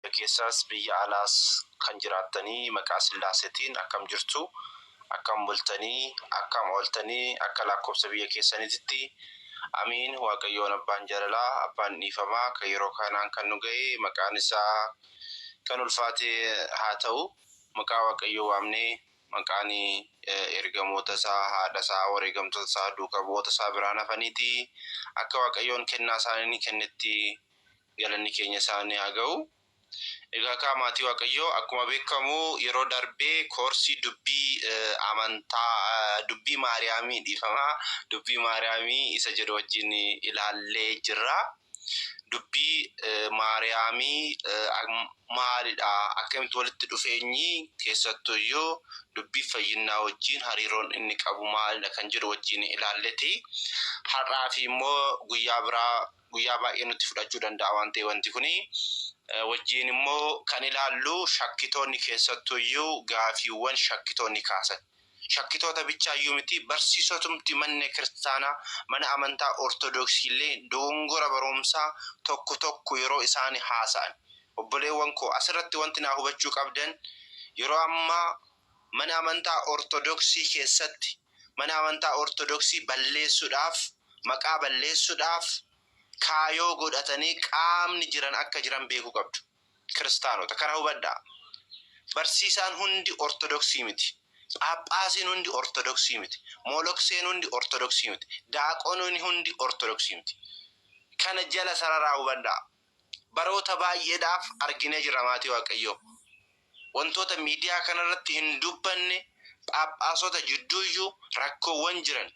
Biyya keessaas biyya alaas kan jiraattanii maqaa Sillaaseetiin akkam jirtu? Akkam bultanii? Akkam ooltanii? Akka laakkobsa biyya keessaniititti. Amiin! Waaqayyoon Abbaan Jaalalaa, Abbaan Dhiifamaa kan yeroo kanaan kan nu gahe maqaan isaa kan ulfaate haa ta'u. Maqaa Waaqayyoo waamnee maqaan ergamoota isaa, haadha isaa, wareegamtoota isaa, duuka bu'oota isaa biraan hafaniiti akka Waaqayyoon kennaa isaanii kennetti Galanni keenya isaani haa ga'u. Egaa kaa maatii waaqayyoo akkuma beekamu yeroo darbee koorsii dubbii amantaa dubbii maariyaamii dhiifama dubbii maariyaamii isa jedhu wajjin ilaallee jirra. Dubbii maariyaamii maalidha akkamitti walitti dhufeenyi keessattuu iyyuu dubbii fayyinnaa wajjin hariiroon inni qabu maalidha kan jedhu wajjin ilaalleti. Har'aa fi immoo guyyaa biraa guyyaa baay'ee nutti fudhachuu danda'a waan ta'e wanti kuni. Wajjiin immoo kan ilaallu shakkitoonni keessattuu iyyuu gaafiiwwan shakkitoonni kaasan. Shakkitoota bichaa iyyuu miti barsiisotumti manne kiristaanaa mana amantaa ortodoksii illee dogongora baroomsaa tokko tokko yeroo isaani haasa'an. Obboleewwan koo asirratti wanti naa hubachuu qabdan yeroo ammaa Mana amantaa Ortodoksii keessatti mana amantaa Ortodoksii balleessudhaaf, maqaa balleessudhaaf kaayoo godhatanii qaamni jiran akka jiran beekuu qabdu. Kiristaanota. Kana hubadhaa. Barsiisaan hundi Ortodoksii miti. Phaaphaasiin hundi Ortodoksii miti. Moolokseen hundi Ortodoksii miti. Daaqononi hundi Ortodoksii miti. Kana jala sararaa hubadhaa. Baroota baay'eedhaaf arginee jirra maatii Waaqayyoo. wantoota miidiyaa kanarratti hin dubbanne, phaaphaasota jidduuyyuu rakkoowwan jiran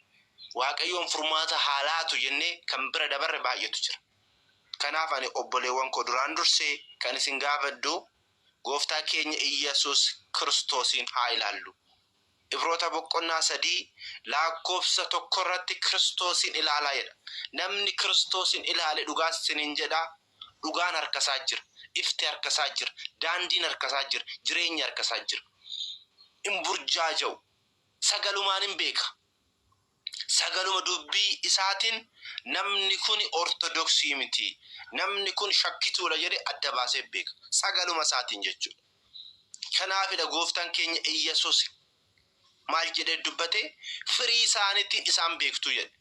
Waaqayyoon furmaata haa laatu jennee kan bira dabarre baay'eetu jira. Kanaaf ani obboleewwan koo duraan dursee kan isin gaafadhu Gooftaa keenya Iyyasuus Kiristoosiin haa ilaallu. Ibroota boqonnaa 3 laakkoofsa 1 irratti Kiristoosiin ilaalaa jedha. Namni Kiristoosiin ilaale dhugaa isiniin jedha, dhugaan harka isaa jira, ifti harka isaa jira, daandiin harka isaa jira, jireenyi harka isaa jira. Hin burjaaja'u, sagalumaan hin beeka. Sagaluma dubbii isaatiin namni kun Ortodoksii miti, namni kun shakkituudha jedhee adda baasee beeka. Sagaluma isaatiin jechuudha. Kanaafidha Gooftaan keenya Iyyasuus maal jedhee dubbate? Firii isaaniitiin isaan beektu jedhe.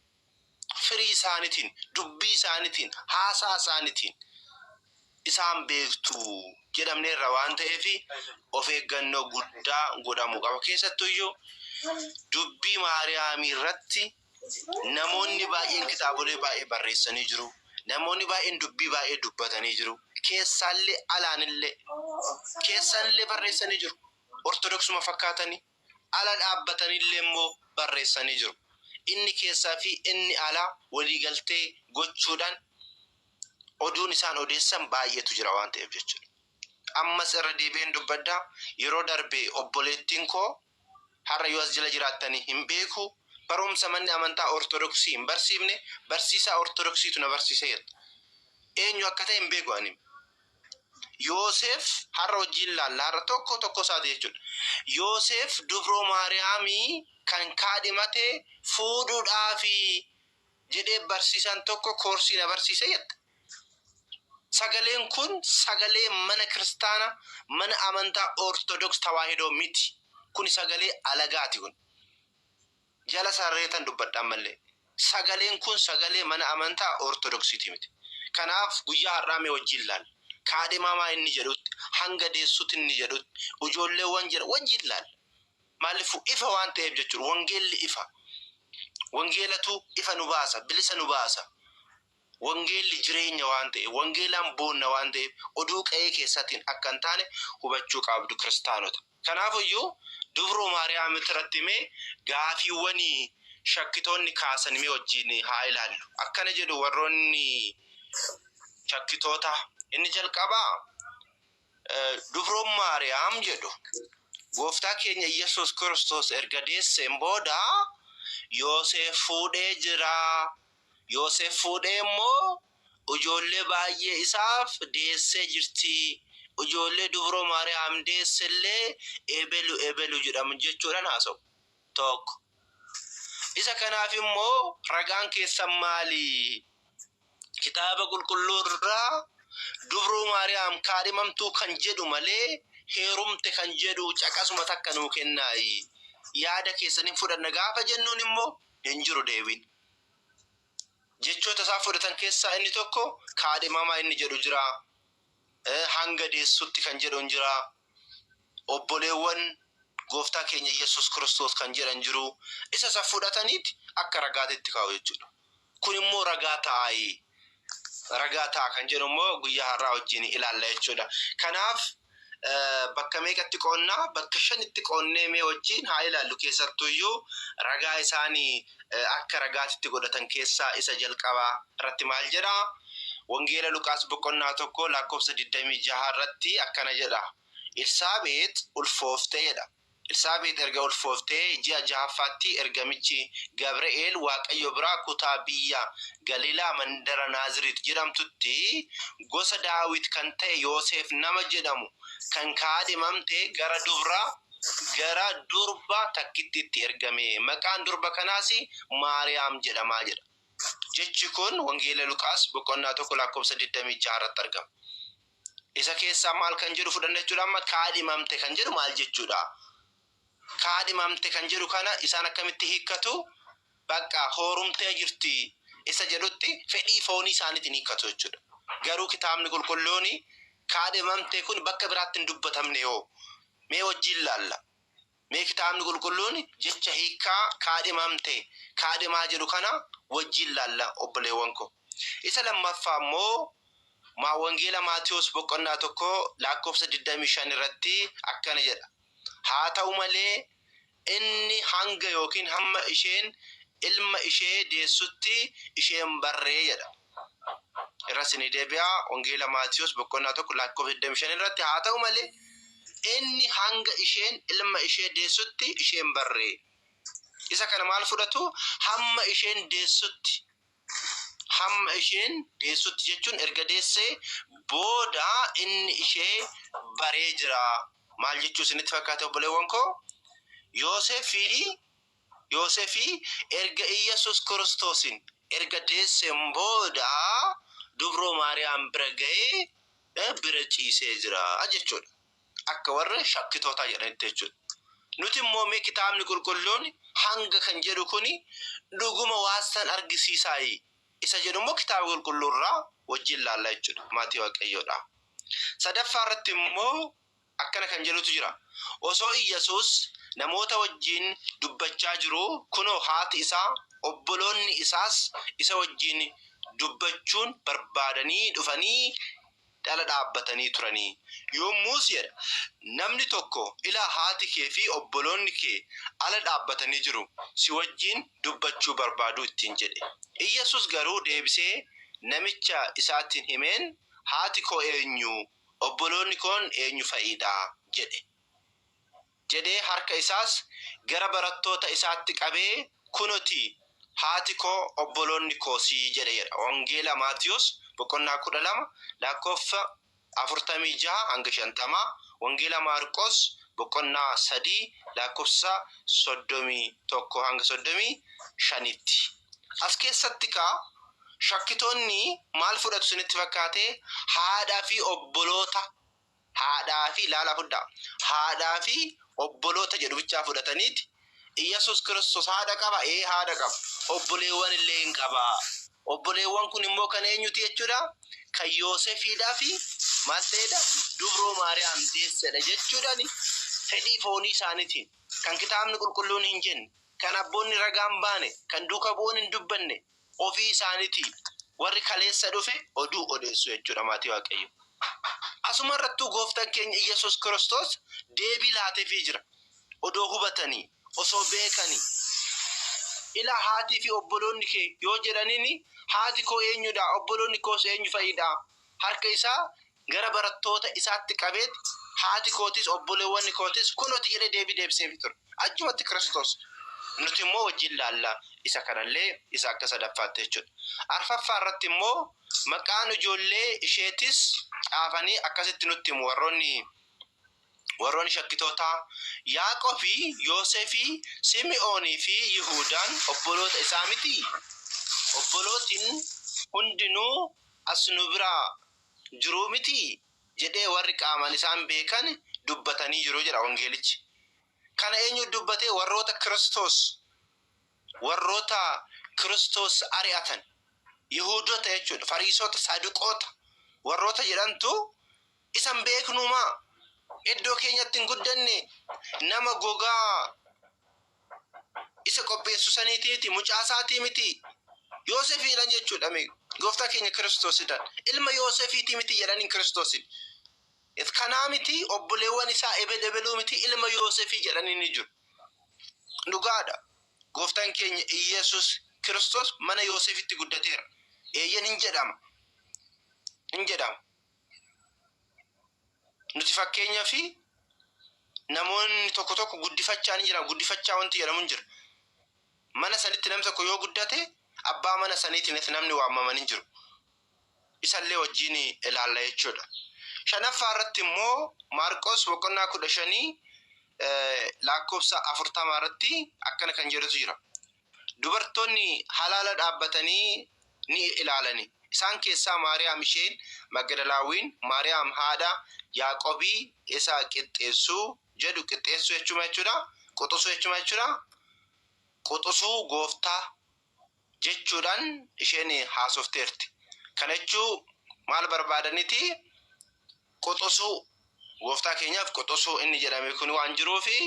Firii isaaniitiin, dubbii isaaniitiin, haasaa isaaniitiin. isaan beektu jedhamneerra waan ta'eef of eeggannoo guddaa godhamu qaba. Keessattuyyuu dubbii Maariyaamii irratti namoonni baay'een kitaabolee baay'ee barreessanii jiru. Namoonni baay'een dubbii baay'ee dubbatanii jiru. Keessaallee alaanillee keessanillee barreessanii jiru. Ortodoksuma fakkaatanii. ala dhaabbatanilleemmoo barreessanii jiru. Inni keessaa fi inni alaa waliigaltee gochuudhaan oduun isaan odeessan baay'eetu jira waan ta'eef jechuudha. Ammas irra deebi'een dubbadha, yeroo darbe obboleettiin koo har'a yoo as jala jiraattani hin beeku, barumsa manni amantaa Ortodoksii hin barsiifne barsiisaa Ortodoksiitu na barsiise jette. Eenyu akka ta'e hin beeku ani. Yooseef har'a wajjin ilaalla. Har'a tokko tokko isaati jechuudha. Yooseef dubroo Maariyaamii kan kaadhimate fuudhuudhaafi jedhee barsiisaan tokko koorsii na barsiise jette. Sagaleen kun sagalee mana kiristaana mana amantaa Ortodoks Tawaahidoo miti. Kuni sagalee alagaati kun. jala sarreetan dubbadha ammallee. Sagaleen kun sagalee mana amantaa Ortodoksiiti miti. Kanaaf guyyaa har'aa mee wajjin laalla. Kaadhimamaa inni jedhutti, hanga deessutti inni jedhutti, ujoolleewwan jedha wajjin laalla. Maallifuu ifa waan ta'eef jechuudha. Wangeelli ifa. Wangeelatu ifa nu baasa, bilisa nu baasa. Wangeelli jireenya waan ta'eef, wangeelaan boonna waan ta'eef, oduu qa'ee keessaatiin akka hin taane hubachuu qaabdu kiristaanota. Kanaaf iyyuu dubroo Maariyaamit irratti mee gaafiiwwani shakkitoonni kaasan mee wajjiin haa ilaallu. Akkana jedhu warroonni shakkitootaa. Inni jalqabaa dubroon Maariyaam jedhu gooftaa keenya Iyyasuus Kiristoos erga deesseen booda Yooseef fuudhee jiraa? Yoosef fuudhee immoo ujoollee baay'ee isaaf deessee jirti. Ujoollee dubroo Maariyaam deesse illee ebelu ebelu jedhamu jechuudhaan haasa'u. 1, Isa kanaaf immoo ragaan keessan maali? Kitaaba Qulqulluu irraa dubroo Maariyaam kaadhimamtuu kan jedhu malee heerumte kan jedhu caqasuma takka nuu kennaayi. Yaada keessan hin fudhanna gaafa jennuun immoo hin jiru deebiin. jechoota isaan fudhatan keessaa inni tokko kaadhimamaa inni jedhu jira. Hanga deessutti kan jedhan jira. Obboleewwan gooftaa keenya Yesuus Kiristoos kan jedhan jiru. Isa isa fudhataniiti akka ragaatitti kaa'u jechuudha. Kun immoo ragaa ta'aayi. Ragaa ta'a kan jedhu immoo guyyaa har'aa wajjin ilaalla jechuudha. Kanaaf bakka meeqatti qoonna? Bakka shanitti qoonnee mee wajjin haa ilaallu. Keessattuu iyyuu ragaa isaan akka ragaatitti godhatan keessaa isa jalqabaa irratti maal jedha? Wangeela Luqaas boqonnaa tokko lakkoofsa 26 irratti akkana jedha. Elsaabeex ulfoofte jedha. Elsaabeex erga ulfooftee ji'a jahaffaatti ergamichi Gabri'eel Waaqayyo biraa kutaa biyya Galiilaa mandara Naazreet jedhamtutti gosa Daawit kan ta'e Yooseef nama jedhamu kan kaadhimamte gara dubra gara durba takkittiitti ergame. Maqaan durba kanaas Maariyaam jedhama jedha. Jechi kun Wangeela Luqaas boqonnaa 1 lakkoofsa 26 irratti argama. Isa keessaa maal kan jedhu fudhanna jechuudha amma kaadhimamte kan jedhu maal jechuudha? Kaadhimamte kan jedhu kana isaan akkamitti hiikkatu? Bakka hoorumtee jirti isa jedhutti fedhii foonii isaaniitiin hiikkatu jechuudha. Garuu kitaabni qulqulluun kaadhimamte kun bakka biraatti hin dubbatamne hoo mee wajjin laalla. Mee Kitaabni Qulqulluun jecha hiikkaa kaadhimamte, kaadhimaa jedhu kana wajjin ilaalla obboleewwan ko. Isa lammaffaa immoo maa Wangeela Maatewos boqonnaa 1 laakkoofsa 25 irratti akkana jedha, Haa ta'u malee, inni hanga ykn hamma isheen ilma ishee deessutti ishee hin barre jedha. irra sinii deebi'a wangeela maatiyoos boqonnaa tokko lakkoofsa 25 irratti haa ta'u malee inni hanga isheen ilma ishee deessutti isheen barree isa kana maal fudhatu hamma isheen deessutti hamma isheen deessutti jechuun erga deessee booda inni ishee baree jira maal jechuu isinitti fakkaata obboleewwan koo Yooseef fi Yoosefi erga Iyyasuus Kiristoosin erga deessen booda dubroo Maariyaam bira ga'ee bira ciisee jira jechuudha. Akka warri shakkitootaa jedhanitti jechuudha. Nuti immoo mee kitaabni qulqulluun hanga kan jedhu kuni dhuguma waan san argisiisaayi isa jedhu immoo kitaaba qulqulluu irraa wajjin laalla jechuudha. Maatii Waaqayyoodha. Sadaffaa irratti immoo Akkana kan jedhutu jira, Osoo Iyyasuus namoota wajjin dubbachaa jiruu, kunoo haati isaa, obboloonni isaas isa wajjin dubbachuun barbaadanii dhufanii dhala dhaabbatanii turani. Yommus jedha, namni tokko, Ilaa haati kee fi obboloonni kee ala dhaabbatanii jiru, si wajjin dubbachuu barbaadu ittiin jedhe. Iyyasuus garuu deebisee namicha isaatiin himeen, Haati koo eenyu? Obboloonni koon eenyu fa'i dha? jedhe. Jedhee harka isaas gara barattoota isaatti qabee, Kuno ti, haati koo, obboloonni koos jedhe jedha. Wangeela Maatiwos boqonnaa 12 lakkoofsa 46-50, Wangeela Maarqos boqonnaa 3 lakkoofsa 31-35 tti. As keessatti kaa Shakkitoonni maal fudhatu isinitti fakkaate? Haadhaa fi obboloota haadhaa fi ilaalaa fudhaa haadhaa fi obboloota jedhu bichaa fudhataniiti Iyyasuus Kiristoos haadha qaba? Ee haadha qaba. Obboleewwan illee in qaba. Obboleewwan kun immoo kan eenyuti jechuudha? Kan Yoosefiidhaa fi maal ta'eedha? Dubroo Maariyaam deessedha jechuudhani fedhii foonii isaanitiin kan kitaabni qulqulluun hin jenne kan abboonni ragaan baane kan duuka bu'oon hin dubbanne ofii isaanitii warri kaleessa dhufe oduu odeessu jechuudha maatii waaqayyo. Asuma irrattuu gooftan keenya Iyyasuus Kiristoos deebii laatefii jira. Odoo hubatanii, osoo beekanii. Ilaa haatii fi obboloonni kee yoo jedhanini haati koo eenyudhaa? Obboloonni koos eenyu fa'idhaa? Harka isaa gara barattoota isaatti qabeet, Haati kootis, obboleewwanni kootis kunooti jedhee deebii deebiseefii ture. Achumatti Kiristoos, Nuti immoo wajjin ilaalla, isa kana illee isa akka sadaffaatti jechuu dha. Arfaffaa irratti immoo maqaan ijoollee isheetis caafanii akkasitti nutti himu warroonni warroonni shakkitootaa, Yaaqobi, Yoosefi, Simi'oonii fi Yihuudaan obboloota isaa mitii? Obbolootin hundinuu as nu biraa jiru mitii? jedhee warri qaamaan isaan beekan dubbatanii jiru jedha Wangeelichi. Kana eenyutu dubbate? Warroota Kiristoos, warroota Kiristoos ari'atan, Yihuudota jechuu dha, Fariisota, Saaduqoota warroota jedhantu isa hin beeknuu maa? Iddoo keenyatti hin guddanne? Nama gogaa isa qopheessu saniitii miti, mucaa isaatii miti, Yoosefiidhan jechuudhami, gooftaa keenya Kiristoosidhan. Ilma Yoosefiitii miti jedhaniin Kiristoosin. It kanaa miti, obboleewwan isaa ebel ebeluu miti, ilma Yoosefii jedhanii ni jiru. Dhugaadha. Gooftaan keenya Iyyasuus Kiristoos mana Yoosefitti guddateera. Eeyyen hin jedhama. Hin jedhama. Nuti fakkeenyaaf namoonni tokko tokko guddifachaa ni jira. Guddifachaa wanti jedhamu hin jiru. Mana sanitti namni tokko yoo guddate abbaa mana saniitiin namni waamaman hin jiru. Isallee wajjin ilaalla jechuudha. Shanaffaa irratti immoo Maarqos boqonnaa kudha shanii lakkoofsa afurtamaa irratti akkana kan jedhutu jira. Dubartoonni halaala dhaabbatanii ni ilaalani. Isaan keessaa Maariyaam isheen Magdalaawiin, Maariyaam haadha Yaaqobii isa qixxeessu jedhu qixxeessu jechuun maal jechuudha? Quxusu jechuun maal jechuudha? Quxusuu gooftaa jechuudhaan isheen haasofteerti. Kana jechuu maal barbaadaniti? Quxusuu, Gooftaa keenyaaf quxusuu inni jedhame kun waan jiruufi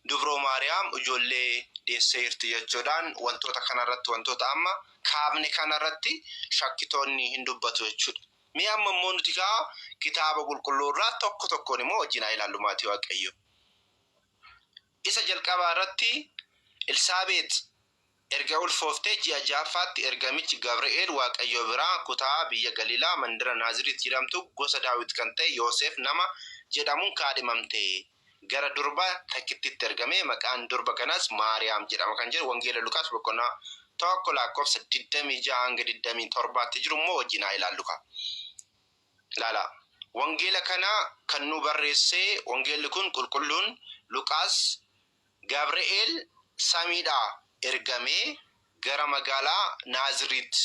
Dubroo Maariyaam ijoollee deesseerti jechuudhaan wantoota kanarratti wantoota amma kaafne kanarratti shakkitoonni hin dubbatu jechuudha. Mee amma immoo nuti kaa kitaaba qulqulluu irraa tokko tokkoon immoo wajjin haa ilaallu maatii waaqayyoo. Isa jalqabaa irratti Elsaabeex erga ulfooftee ji'a ja'affaatti ergamichi Gabri'eel Waaqayyo biraa kutaa biyya Galiilaa mandara Naaziriit jedhamtu gosa Daawit kan ta'e Yooseef nama jedhamuun kaadhimamte gara durba takkittiitti ergame maqaan durba kanaas Maariyaam jedhama kan jedhu Wangeela Luqaas boqonnaa 1 lakkoofsa 26-27tti jiru immoo wajjin haa ilaallukaa. Ilaalaa. Wangeela kana kan nuu barreesse, wangeelli kun qulqulluun Luqaas, Gabre'eel samiidhaa ergamee gara magaalaa Naaziriit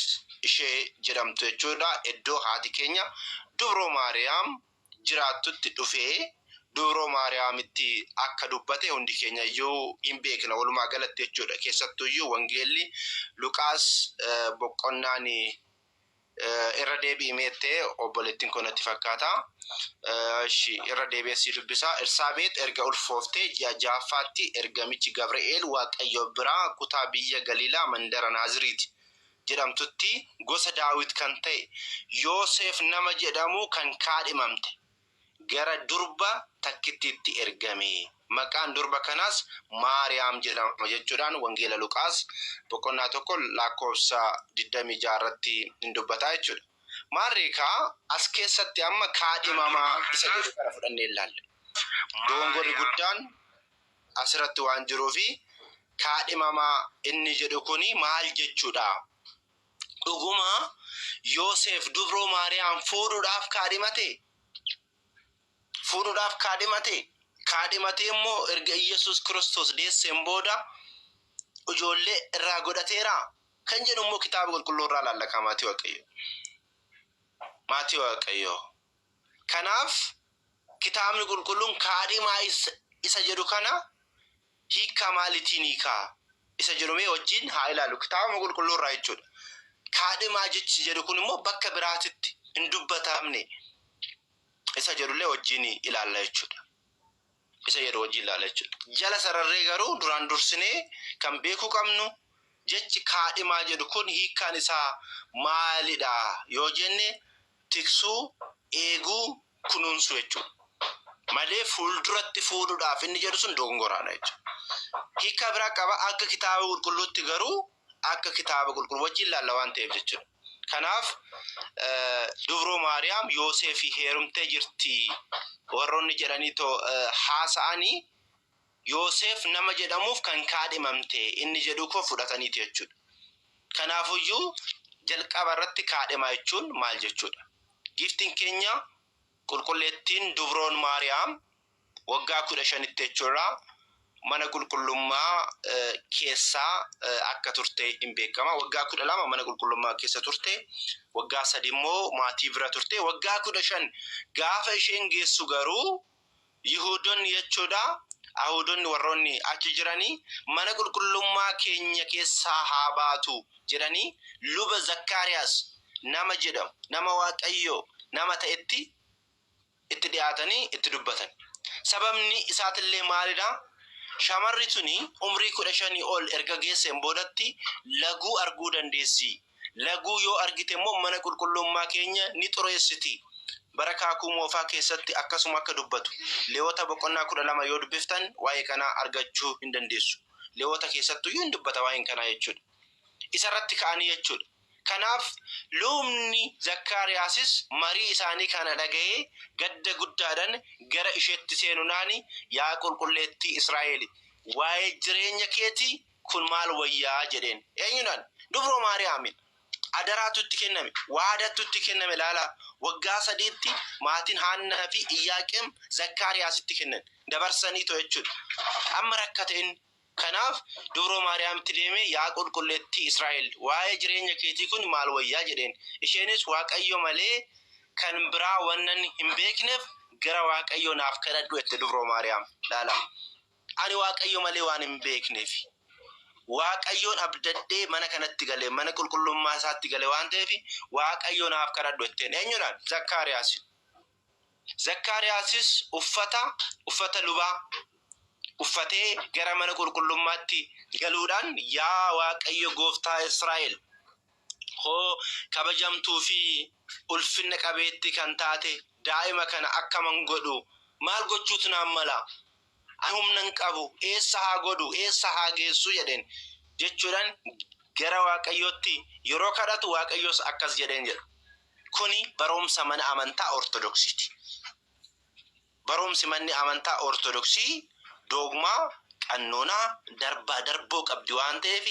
ishee jedhamtu jechuudha, iddoo haati keenya dubroo Maariyaam jiraattutti dhufee dubroo Maariyaamitti akka dubbate hundi keenya iyyuu in beekna walumaa galatti jechuudha. Keessattuu iyyuu wangeelli Luqaas boqonnaan Irra deebi'i meette obboleettiin koo natti fakkaata. Ishi irra deebi'ee sii dubbisaa. Elsaabeet erga ulfooftee ji'a ja'affaatti ergamichi Gabri'eel Waaqayyo biraa kutaa biyya Galiilaa mandara Naaziriit jedhamtutti gosa Daawit kan ta'e Yooseef nama jedhamu kan kaadhimamte gara durba takkittiitti ergame. Maqaan durba kanaas Maariyaam jedhama jechuudhaan Wangeela Luqaas boqonnaa 1 lakkoofsa 26 irratti in dubbata jechuudha. Maarree kaa as keessatti amma kaadhimamaa isa jedhu kana fudhannee ilaalla. Doongorri guddaan asirratti waan jiruufi kaadhimamaa inni jedhu kuni maal jechuudha? Dhuguma Yoseef dubroo Maariyaam fuudhuudhaaf kaadhimatee? Fuudhuudhaaf kaadhimatee? Kaadhimatee immoo erga Iyyasuus Kiristoos deesseen booda ijoollee irraa godhateeraa? Kan jedhu immoo kitaaba qulqulluu irraa ilaalla kaa maatii Waaqayyoo. Maatii Waaqayyoo. Kanaaf kitaabni qulqulluun kaadhimaa isa jedhu kana Hiikkaa maalitiin hiika isa jedhu mee wajjin haa ilaallu. Kitaabuma Qulqulluu irraa jechuu dha. Kaadhimaa jechi jedhu kun immoo bakka biraatitti hin dubbatamne isa jedhu illee wajjin ilaalla jechuu dha. Isa jedhu wajjin ilaalla jechuu dha. Jala sararree garuu duraan dursinee kan beekuu qabnu jechi kaadhimaa jedhu kun hiikkaan isaa maali dha yoo jenne tiksuu, eeguu, kunuunsuu jechuudha. Malee fuulduratti fuudhuudhaaf inni jedhu sun dogongoraadha jechuudha. Hiikkaa biraa qaba akka kitaaba qulqulluutti garuu akka kitaaba qulqulluu wajjin laalla waan ta'eef jechuudha. Kanaaf dubroo Maariyaam Yooseefii heerumtee jirti warroonni jedhanii too haasa'anii Yooseef nama jedhamuuf kan kaadhimamte inni jedhuu koo fudhataniiti jechuudha. Kanaafuyyuu jalqaba irratti kaadhimaa jechuun maal jechuudha? Giiftiin keenya qulqulleettiin dubroon Maariyaam waggaa 15tti jechuurraa mana qulqullummaa keessa akka turte hin beekama. Waggaa 12 mana qulqullummaa keessa turte, waggaa 3 immoo maatii bira turte, waggaa 15 gaafa isheen geessu garuu Yihuudonni jechuu dha, Ayihuudonni warroonni achi jiranii, Mana qulqullummaa keenya keessaa haa baatu! jedhanii luba Zakkaariyaas nama jedhamu, nama Waaqayyoo nama ta'etti itti dhi'aatanii itti dubbatan. Sababni isaatillee maali dha? Shamarri tuni umrii 15 ol erga geesseen boodatti laguu arguu dandeessii? Laguu yoo argite immoo mana qulqulluummaa keenya ni xureessiti. Bara Kaakuu Moofaa keessatti akkasuma akka dubbatu. Leewota boqonnaa 12 yoo dubbiftan waa'ee kanaa argachuu hin dandeessu. Leewota keessattuu iyyuu hin dubbata waa'een kanaa jechuudha. Isa irratti ka'anii jechuudha. Kanaaf lubni Zakkaariyaasis marii isaanii kana dhaga'ee gadda guddaadhaan gara isheetti seenunaani yaa qulqulleettii Israa'eeli waa'ee jireenya keetii Kun maal wayyaa? jedheen. Eenyudhaan? Dubroo Maariyaamiin. Adaraatu itti kenname, waadattu itti kenname ilaalaa. Waggaa sadiitti maatiin Haannaa fi Iyyaaqeem Zakkaariyaasitti kennan. Dabarsaniitoo jechuudha. Amma rakkate inni. Kanaaf Dubroo Maariyaamitti deemee yaa Qulqulleettii Israa'el waa'ee jireenya keetii kun maal wayyaa? jedheen. Isheenis Waaqayyo malee kan biraa wannan hin beekneef gara Waaqayyoo naaf kadhadhu jette Dubroo Maariyaam. Ilaalaa. Ani Waaqayyo malee waan hin beekneef, Waaqayyoon abdadhee mana kanatti gale, mana qulqullummaa isaatti gale waan ta'eef, Waaqayyo naaf kadhadhu jetteen. Eenyudhaan? Zakkaariyaasiin. Zakkaariyaasis uffata, uffata lubaa uffatee gara mana qulqullummaatti galuudhaan, yaa Waaqayyo gooftaa Israa'el, hoo kabajamtuu fi ulfinna qabeetti kan taate daa'ima kana akkaman godhu, maal gochuutu naan mala? Ani humna hin qabu, eessa haa godhu, eessa haa geessu jedheen jechuudhaan gara Waaqayyootti yeroo kadhatu Waaqayyos akkas jedheen jedha. Kuni barumsa mana amantaa Ortodoksiiti. Barumsi manni amantaa Ortodoksii doogmaa, qannoonaa, darbaa darboo qabdi waan ta'eef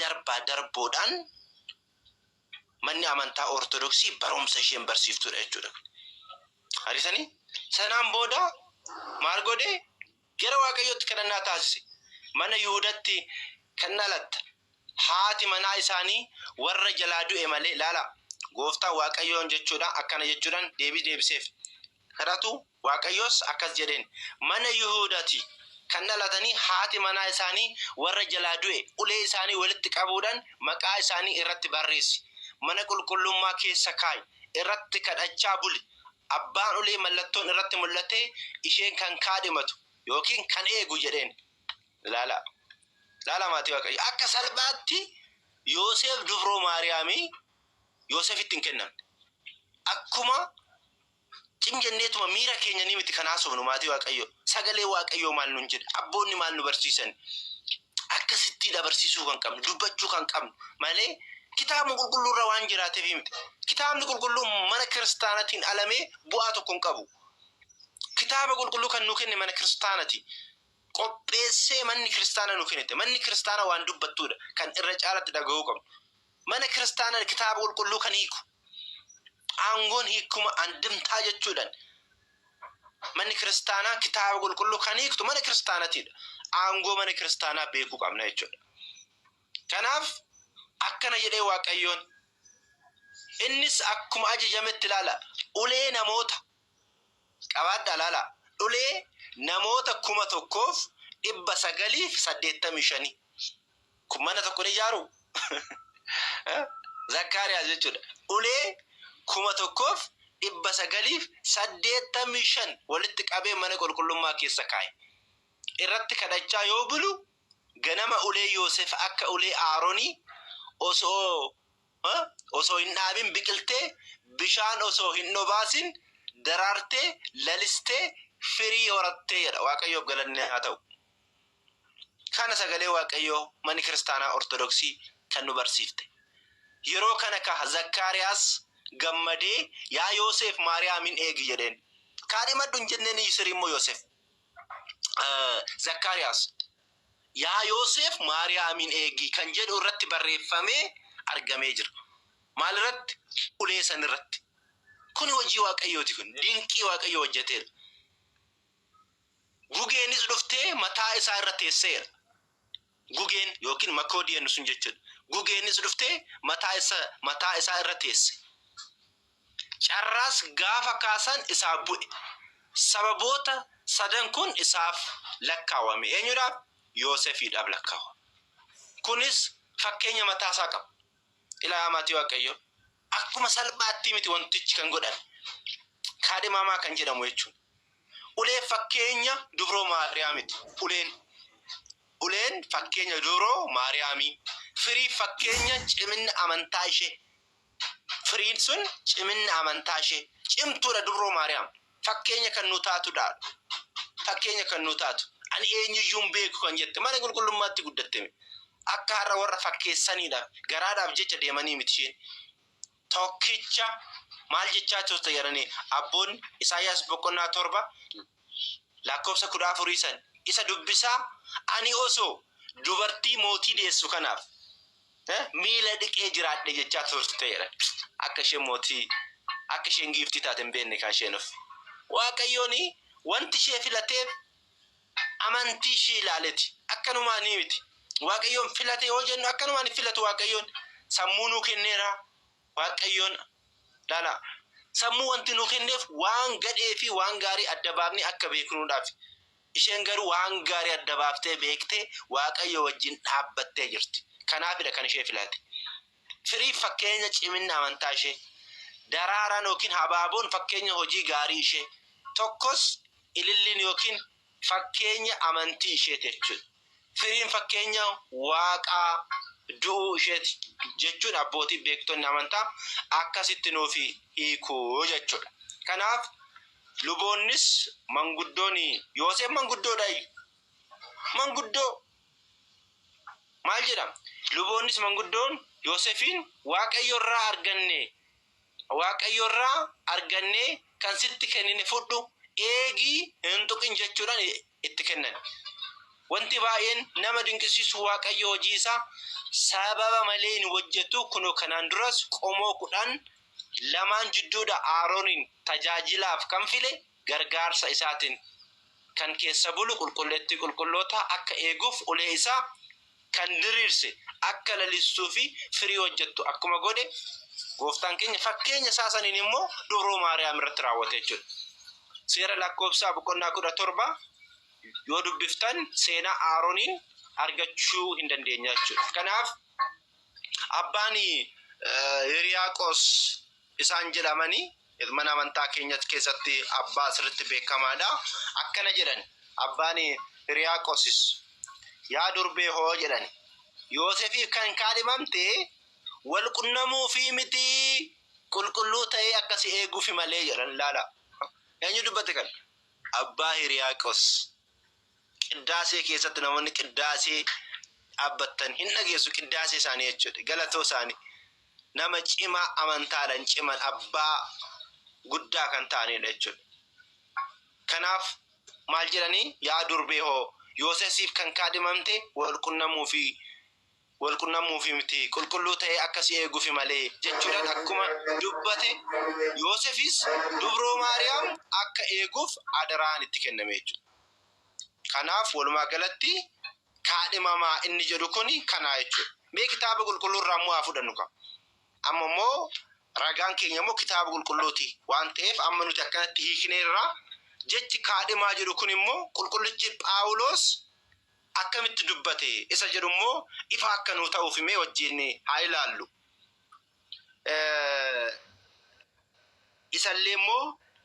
darbaa darboodhaan Manni amantaa Ortodoksii barumsa isheen barsiiftudha jechuudha. Argitanii? Sanaan booda maal godhe? Gara Waaqayyootti kadhannaa taasise. Mana Yihudatti kan dhalatte haati manaa isaanii warra jalaa du'e malee, laalaa, gooftaa Waaqayyoon jechuudha, akkana jechuudhaan deebii deebiseef. Kadhatu Waaqayyos akkas jedheen, Mana Yihuudaa ti kan dhalatanii haati manaa isaanii warra jalaa du'e ulee isaanii walitti qabuudhaan maqaa isaanii irratti barreessi, mana qulqullummaa keessa kaa'i, irratti kadhachaa buli, abbaan ulee mallattoon irratti mul'atee isheen kan kaadhimatu yookiin kan eegu jedheen. Ilaalaa! Ilaalaa maatii Waaqayyoo! Akka salphaatti Yooseef dubroo Maariyaamii Yooseefitti hin kennamne. Akkuma Cin jenneetuma miira keenyanii miti kan haasofnu maatii waaqayyoo. Sagalee waaqayyoo maal nuun jedha? Abboonni maal nu barsiisani? Akkasittiidha barsiisuu kan qabnu, dubbachuu kan qabnu malee kitaabuma qulqulluu irra waan jiraateefii miti. Kitaabni qulqulluu mana kiristaanatiin alamee bu'aa tokko hin qabu. Kitaaba qulqulluu kan nu kenne mana kiristaanati. Qopheessee manni kiristaana nu kennite. Manni kiristaana waan dubbattuudha kan irra caalatti dhaga'uu qabnu. Mana kiristaana kitaaba qulqulluu kan hiiku. Aangoon hiikkuma andimtaa jechuudhan manni kiristaanaa kitaaba qulqulluu kan hiiktu mana kiristaanatiidha. Aangoo mana kiristaanaa beekuu qabna jechuudha. Kanaaf akkana jedhee Waaqayyoon innis akkuma ajajametti ilaala ulee namoota Qabaadhaa ilaalaa. Dhulee namoota 1985 kun mana tokko ni ijaaruu? Zakkaariyaas jechuu dha. Ulee 1985 walitti qabee mana qulqullummaa keessa kaa'e. Irratti kadhachaa yoo bulu, ganama ulee Yoosef akka ulee Aaronii osoo osoo hin dhaabin biqiltee, bishaan osoo hin dhobaasin daraartee, lalistee, firii horattee jedha. Waaqayyoof galanni haa ta'u. Kana sagalee Waaqayyoo manni kiristaanaa Ortodoksii kan nu barsiifte. Yeroo kana ka Zakkaariyaas gammadee yaa Yooseef Maariyaamin eegi jedheen. Kaadhimadhu hin jenneen iyyu sirii immoo Yooseef Zakkaariyaas Yaa Yooseef Maariyaamiin eegi kan jedhu irratti barreeffamee argamee jira. Maal irratti? Ulee san irratti. Kuni hojii Waaqayyooti kun. Dinqii Waaqayyo hojjateera. Gugeenis dhuftee mataa isaa irra teesseera. Gugeen yookiin makoodii jennu sun jechuudha. Gugeenis dhuftee mataa isa mataa isaa irra teesse. Carraas gaafa kaasan isaaf bu'e. Sababoota sadan kun isaaf lakkaawame. Eenyudhaaf? Yoosefiidhaaf lakkaawame. Kunis fakkeenya mataa isaa qaba. Ilaa maatii Waaqayyoo, akkuma salphaattii miti wantichi kan godhame. Kaadhimaamaa kan jedhamu jechuun ulee fakkeenya dubroo Maariyaamiti. Uleen uleen fakkeenya dubroo Maariyaamii, firii fakkeenya ciminna amantaa ishee. Firiin sun ciminna amantaa ishee. Cimtuudha Dubroo Maariyaam. Fakkeenya kan nuu taatudha. Fakkeenya kan nuu taatu. Ani eenyuyyuu hin beeku kan jette mana qulqullummaatti guddatteme. Akka har'a warra fakkeessaniidhaaf, garaadhaaf jecha deemanii miti isheen. Tokkicha maal jechaa turte jedhanii abboonni Isaayyaas boqonnaa 7 Lakkoofsa 14 san isa dubbisaa, Ani osoo dubartii mootii deessu kanaaf miila dhiqee jiraadhee jechaa turte jedhan. Akka isheen mootii, akka isheen giiftii taate hin beekne kan isheen of. Waaqayyoon wanti ishee filateef amantii ishee ilaaleeti. Akkanumaanii miti. Waaqayyoon filate yoo jennu akkanumaan hin filatu Waaqayyoon. Sammuu nuu kenneera. Waaqayyoon lala. Sammuu wanti nuu kenneef waan gadhee fi waan gaarii adda baafnee akka beeknuudhaafi. Isheen garuu waan gaarii adda baaftee beektee Waaqayyoo wajjin dhaabbattee jirti. Kanaafidha kan ishee filate. Firiin fakkeenya ciminna amantaa ishee. Daraaraan ykn habaaboon fakkeenya hojii gaarii ishee. Tokkos ililliin ykn Fakkeenya amantii isheeti jechuudha. Firiin fakkeenya Waaqaa du'uu isheeti jechuun abbootiin beektonni amantaa akkasitti nuuf hiiku jechuudha. Kanaaf luboonnis manguddoon Yooseef manguddoodhaayi. Manguddoo maal jedhama? Luboonnis manguddoon Yoosefiin Waaqayyorraa arganne Waaqayyo irraa argannee kan sitti kennine fudhu, eegi, hin tuqin jechuudhaan itti kennani. Wanti baay'een nama dinqisiisu Waaqayyo hojii isaa sababa malee hin hojjetu, kunoo kanaan duras qomoo kudhan lamaan jidduudha Aarooniin tajaajilaaf kan file gargaarsa isaatiin kan keessa bulu qulqulleettii qulqullootaa akka eeguuf ulee isaa kan diriirse akka lalistuu fi firii hojjettu akkuma godhe, Gooftaan keenya fakkeenya isaa saniin immoo dubroo Maariyaam irratti raawwate jechuudha. Seera lakkoofsaa boqonnaa 17 yoo dubbiftan seenaa Aaroniin argachuu hin dandeenya jechuudha. Kanaaf abbaan Hiriyaaqos isaan jedhamani mana amantaa keenya keessatti abbaa sirritti beekamaadha. Akkana jedhan abbaan Hiriyaaqosis yaa durbee hoo jedhan Yoosefiif kan kaadhimamte wal qunnamuufii mitii qulqulluu ta'ee akka si eeguufi malee jedhan ilaala. Eenyu dubbate kan? Abbaa Hiriyaaqos. Qiddaasee keessatti namoonni qiddaasee dhaabbattan hin dhageessu qiddaasee isaanii jechuudha. Galatoo isaanii nama cimaa amantaadhaan ciman abbaa guddaa kan ta'anidha jechuudha. Kanaaf maal jedhanii yaa durbee hoo Yoosesiif kan kaadhimamte wal qunnamuu fi wal qunnamuufi miti, qulqulluu ta'ee akka si eeguufi malee jechuudhaan akkuma dubbate, Yoosefis Dubroo Maariyaam akka eeguuf adaraan itti kenname jechuudha. Kanaaf walumaa galatti kaadhimamaa inni jedhu kuni kanaa jechuudha. Mee kitaaba qulqulluu irraa immoo haa fudhannu kaa. Amma immoo ragaan keenya immoo kitaaba qulqulluuti waan ta'eef amma nuti akkanatti hiikneerra. Jechi kaadhimaa jedhu kun immoo qulqullichi Phaawuloos akkamitti dubbate isa jedhu immoo ifa akka nuu ta'uuf mee wajjin haa ilaallu. Isallee immoo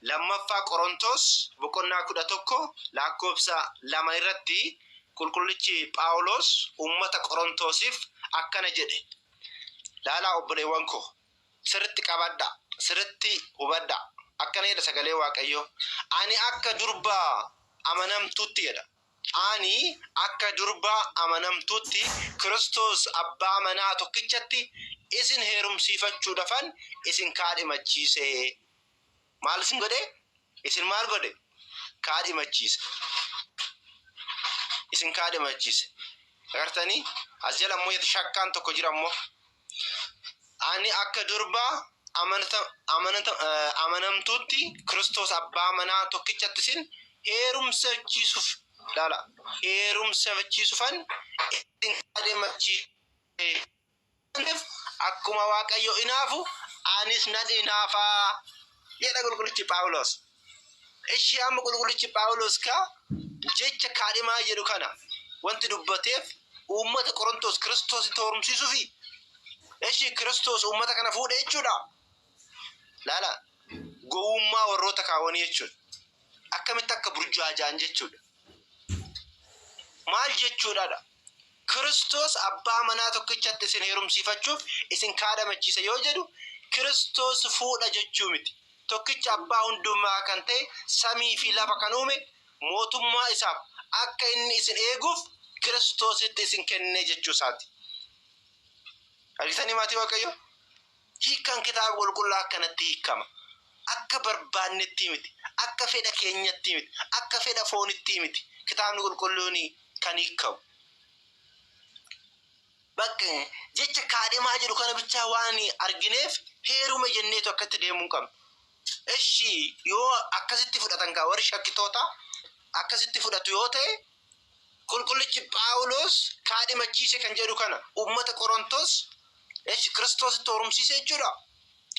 lammaffaa Qorontoos boqonnaa kudha tokko lakkoofsa lama irratti qulqullichi Phaawuloos uummata Qorontoosiif akkana jedhe. Laalaa obboleewwan koo sirritti qabadha, sirritti hubadha. Akkana jedha sagalee Waaqayyoo. Ani akka durba amanamtuutti jedha. Ani akka durba amanamtuutti Kiristoos abbaa manaa tokkichatti isin heerumsiifachuudhafan isin kaadhimachiise. Maal isin godhe? Isin maal godhe? Kaadhimachiise. Isin kaadhimachiise. Agartanii? As jala immoo shakkaan tokko jira immoo. Ani akka durba amanamtuutti Kiristoos abbaa manaa tokkichatti isin heerumsachiisuuf ilaala. Heerumsachiisuufan isin kaadhimachiise. Maaliif akkuma Waaqayyo inaafu anis nan inaafa jedha qulqullichi Phaawulos. Ishii amma qulqullichi Phaawulos ka jecha kaadhimaa jedhu kana wanti dubbateef uummata Qorontos Kiristoos itti horumsiisuufi. Ishii Kiristoos uummata kana fuudhe jechuudha. Laala gowwummaa warroota kaawwanii jechuudha. Akkamitti akka burjaajaan jechuudha. Maal jechuudhaadha? Kiristoos abbaa manaa tokkichatti isin heerumsiifachuuf isin kaadhamachiisa yoo jedhu, Kiristoos fuudha jechuu miti. Tokkicha abbaa hundumaa kan ta'e samii fi lafa kan uume, mootummaa isaaf akka inni isin eeguuf Kiristoositti isin kenne jechuu isaati. Argitanii maatii Waaqayyoo? Hiikkaan Kitaaba Qulqullaa akkanatti hiikkama, Akka barbaannettii miti, akka fedha keenyattii miti, akka fedha foonittii miti Kitaabni Qulqulluun kan hiikkamu. Bakka jecha kaadhimaa jedhu kana bichaa waan argineef heerume jenneetu akkatti deemuu hin qabnu. Eshi yoo akkasitti fudhatan kaa warri shakkitootaa akkasitti fudhatu yoo ta'e Qulqullichi Phaawuloos kaadhimachiise kan jedhu kana uummata Qorontoos esh Kiristoositti horumsiise jechuudha.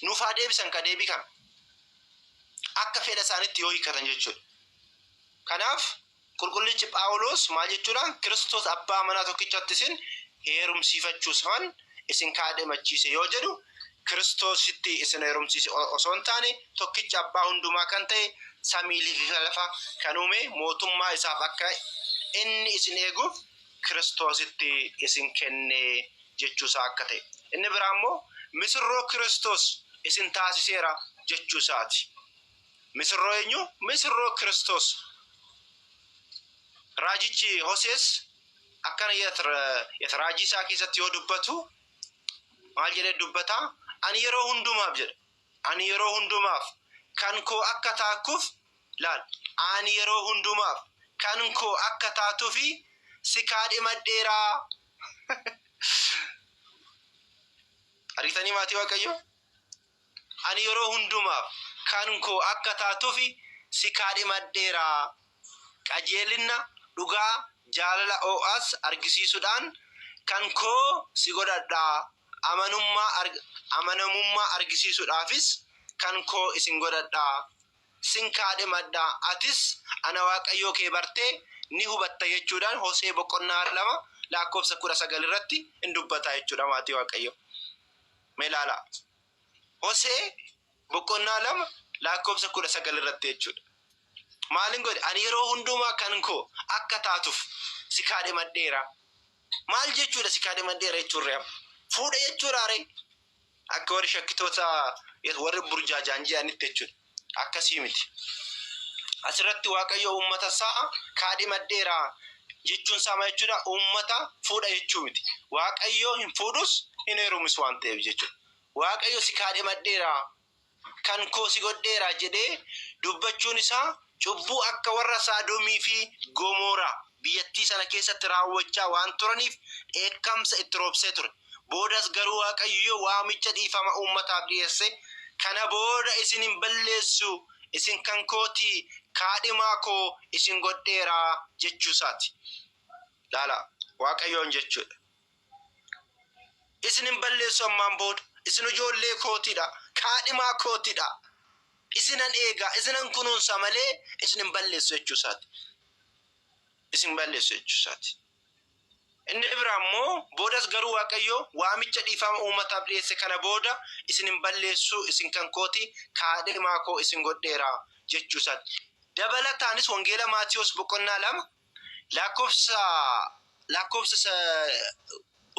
Nuuf haa deebisan ka deebii kana. Akka fedha isaanitti yoo hiikkatan jechuudha. Kanaaf qulqullichi Phaawuloos maal jechuudhaan Kiristoos abbaa manaa tokkichatti isin heerumsiifachuusfan isin kaadhimachiise yoo jedhu Kiristoositti isin heerumsiise osoo hin taane tokkicha abbaa hundumaa kan ta'e samiiliifi lafa kan uume mootummaa isaaf akka inni isin eeguuf Kiristoositti isin kenne jechuu isaa akka ta'e. Inni biraa immoo misirroo Kiristoos isin taasiseera jechuu isaati. Misirroo eenyu? Misirroo Kiristoos. Raajichi Hosees akkana jedha raajii isaa keessatti yoo dubbatu maal jedhee dubbata ani yeroo hundumaaf jedha ani yeroo hundumaaf kan koo akka taakkuuf laal ani yeroo hundumaaf kan koo akka taatuufi si kaadhimadheeraa argitanii maatii waaqayyoo Ani yeroo hundumaaf kan koo akka taatufi si kaadhimadheera. Qajeelinna, dhugaa, jaalala oo'as argisiisuudhaan kan koo si godhadha, amanummaa, amanamummaa argisiisuudhaafis kan koo isin godhadha. Sin kaadhimadha, atis ana Waaqayyoo kee bartee ni hubatta jechuudhaan Hosee boqonnaa 2 lakkoofsa 19 irratti in dubbata jechuudha maatii Waaqayyoo. Mee ilaalaa. Hosee boqonnaa lama lakkoofsa kudha sagal irratti jechuudha. Maalin godhe? Ani yeroo hundumaa kan koo akka taatuuf si kaadhimadheera. Maal jechuudha si kaadhimadheera jechuun ree? Fuudha jechuudha ree? Akka warri shakkitoota warri burjaajaan jedhanitti jechuudha. Akkasii miti. Asirratti Waaqayyo uummata isaa kaadhimadheera jechuun isaa maal jechuudha? Uummata fuudha jechuu miti. Waaqayyo hin fuudhus hin heerumis waan ta'eef jechuudha. Waaqayyo si kaadhimadheera kan koo si godheera jedhee dubbachuun isaa cubbuu akka warra Saadomii fi Gomooraa biyyattii sana keessatti raawwachaa waan turaniif dheekkamsa itti roobsee ture. Boodas garuu Waaqayyo waamicha dhiifama uummataaf dhiyeesse, Kana booda isin hin balleessu, isin kan koo ti, kaadhimaa koo isin godheera jechuu isaa ti. Ilaalaa, Waaqayyoon jechuu dha. Isin hin balleessu ammaan booda. Isin ijoollee kootidha. Kaadhimaa kootidha. Isinan eegaa, isinan kunuunsa malee isin hin balleessu jechuu isaati. Isin hin balleessu jechuu isaati. Inni biraa immoo boodas garuu Waaqayyo waamicha dhiifama uummataaf dhiyeesse kana booda isin hin balleessu, isin kan kooti, kaadhimaa koo isin godheera jechuu isaati. Dabalataanis Wangeela Maatiyos boqonnaa lama Lakkoofsa lakkoofsa sa-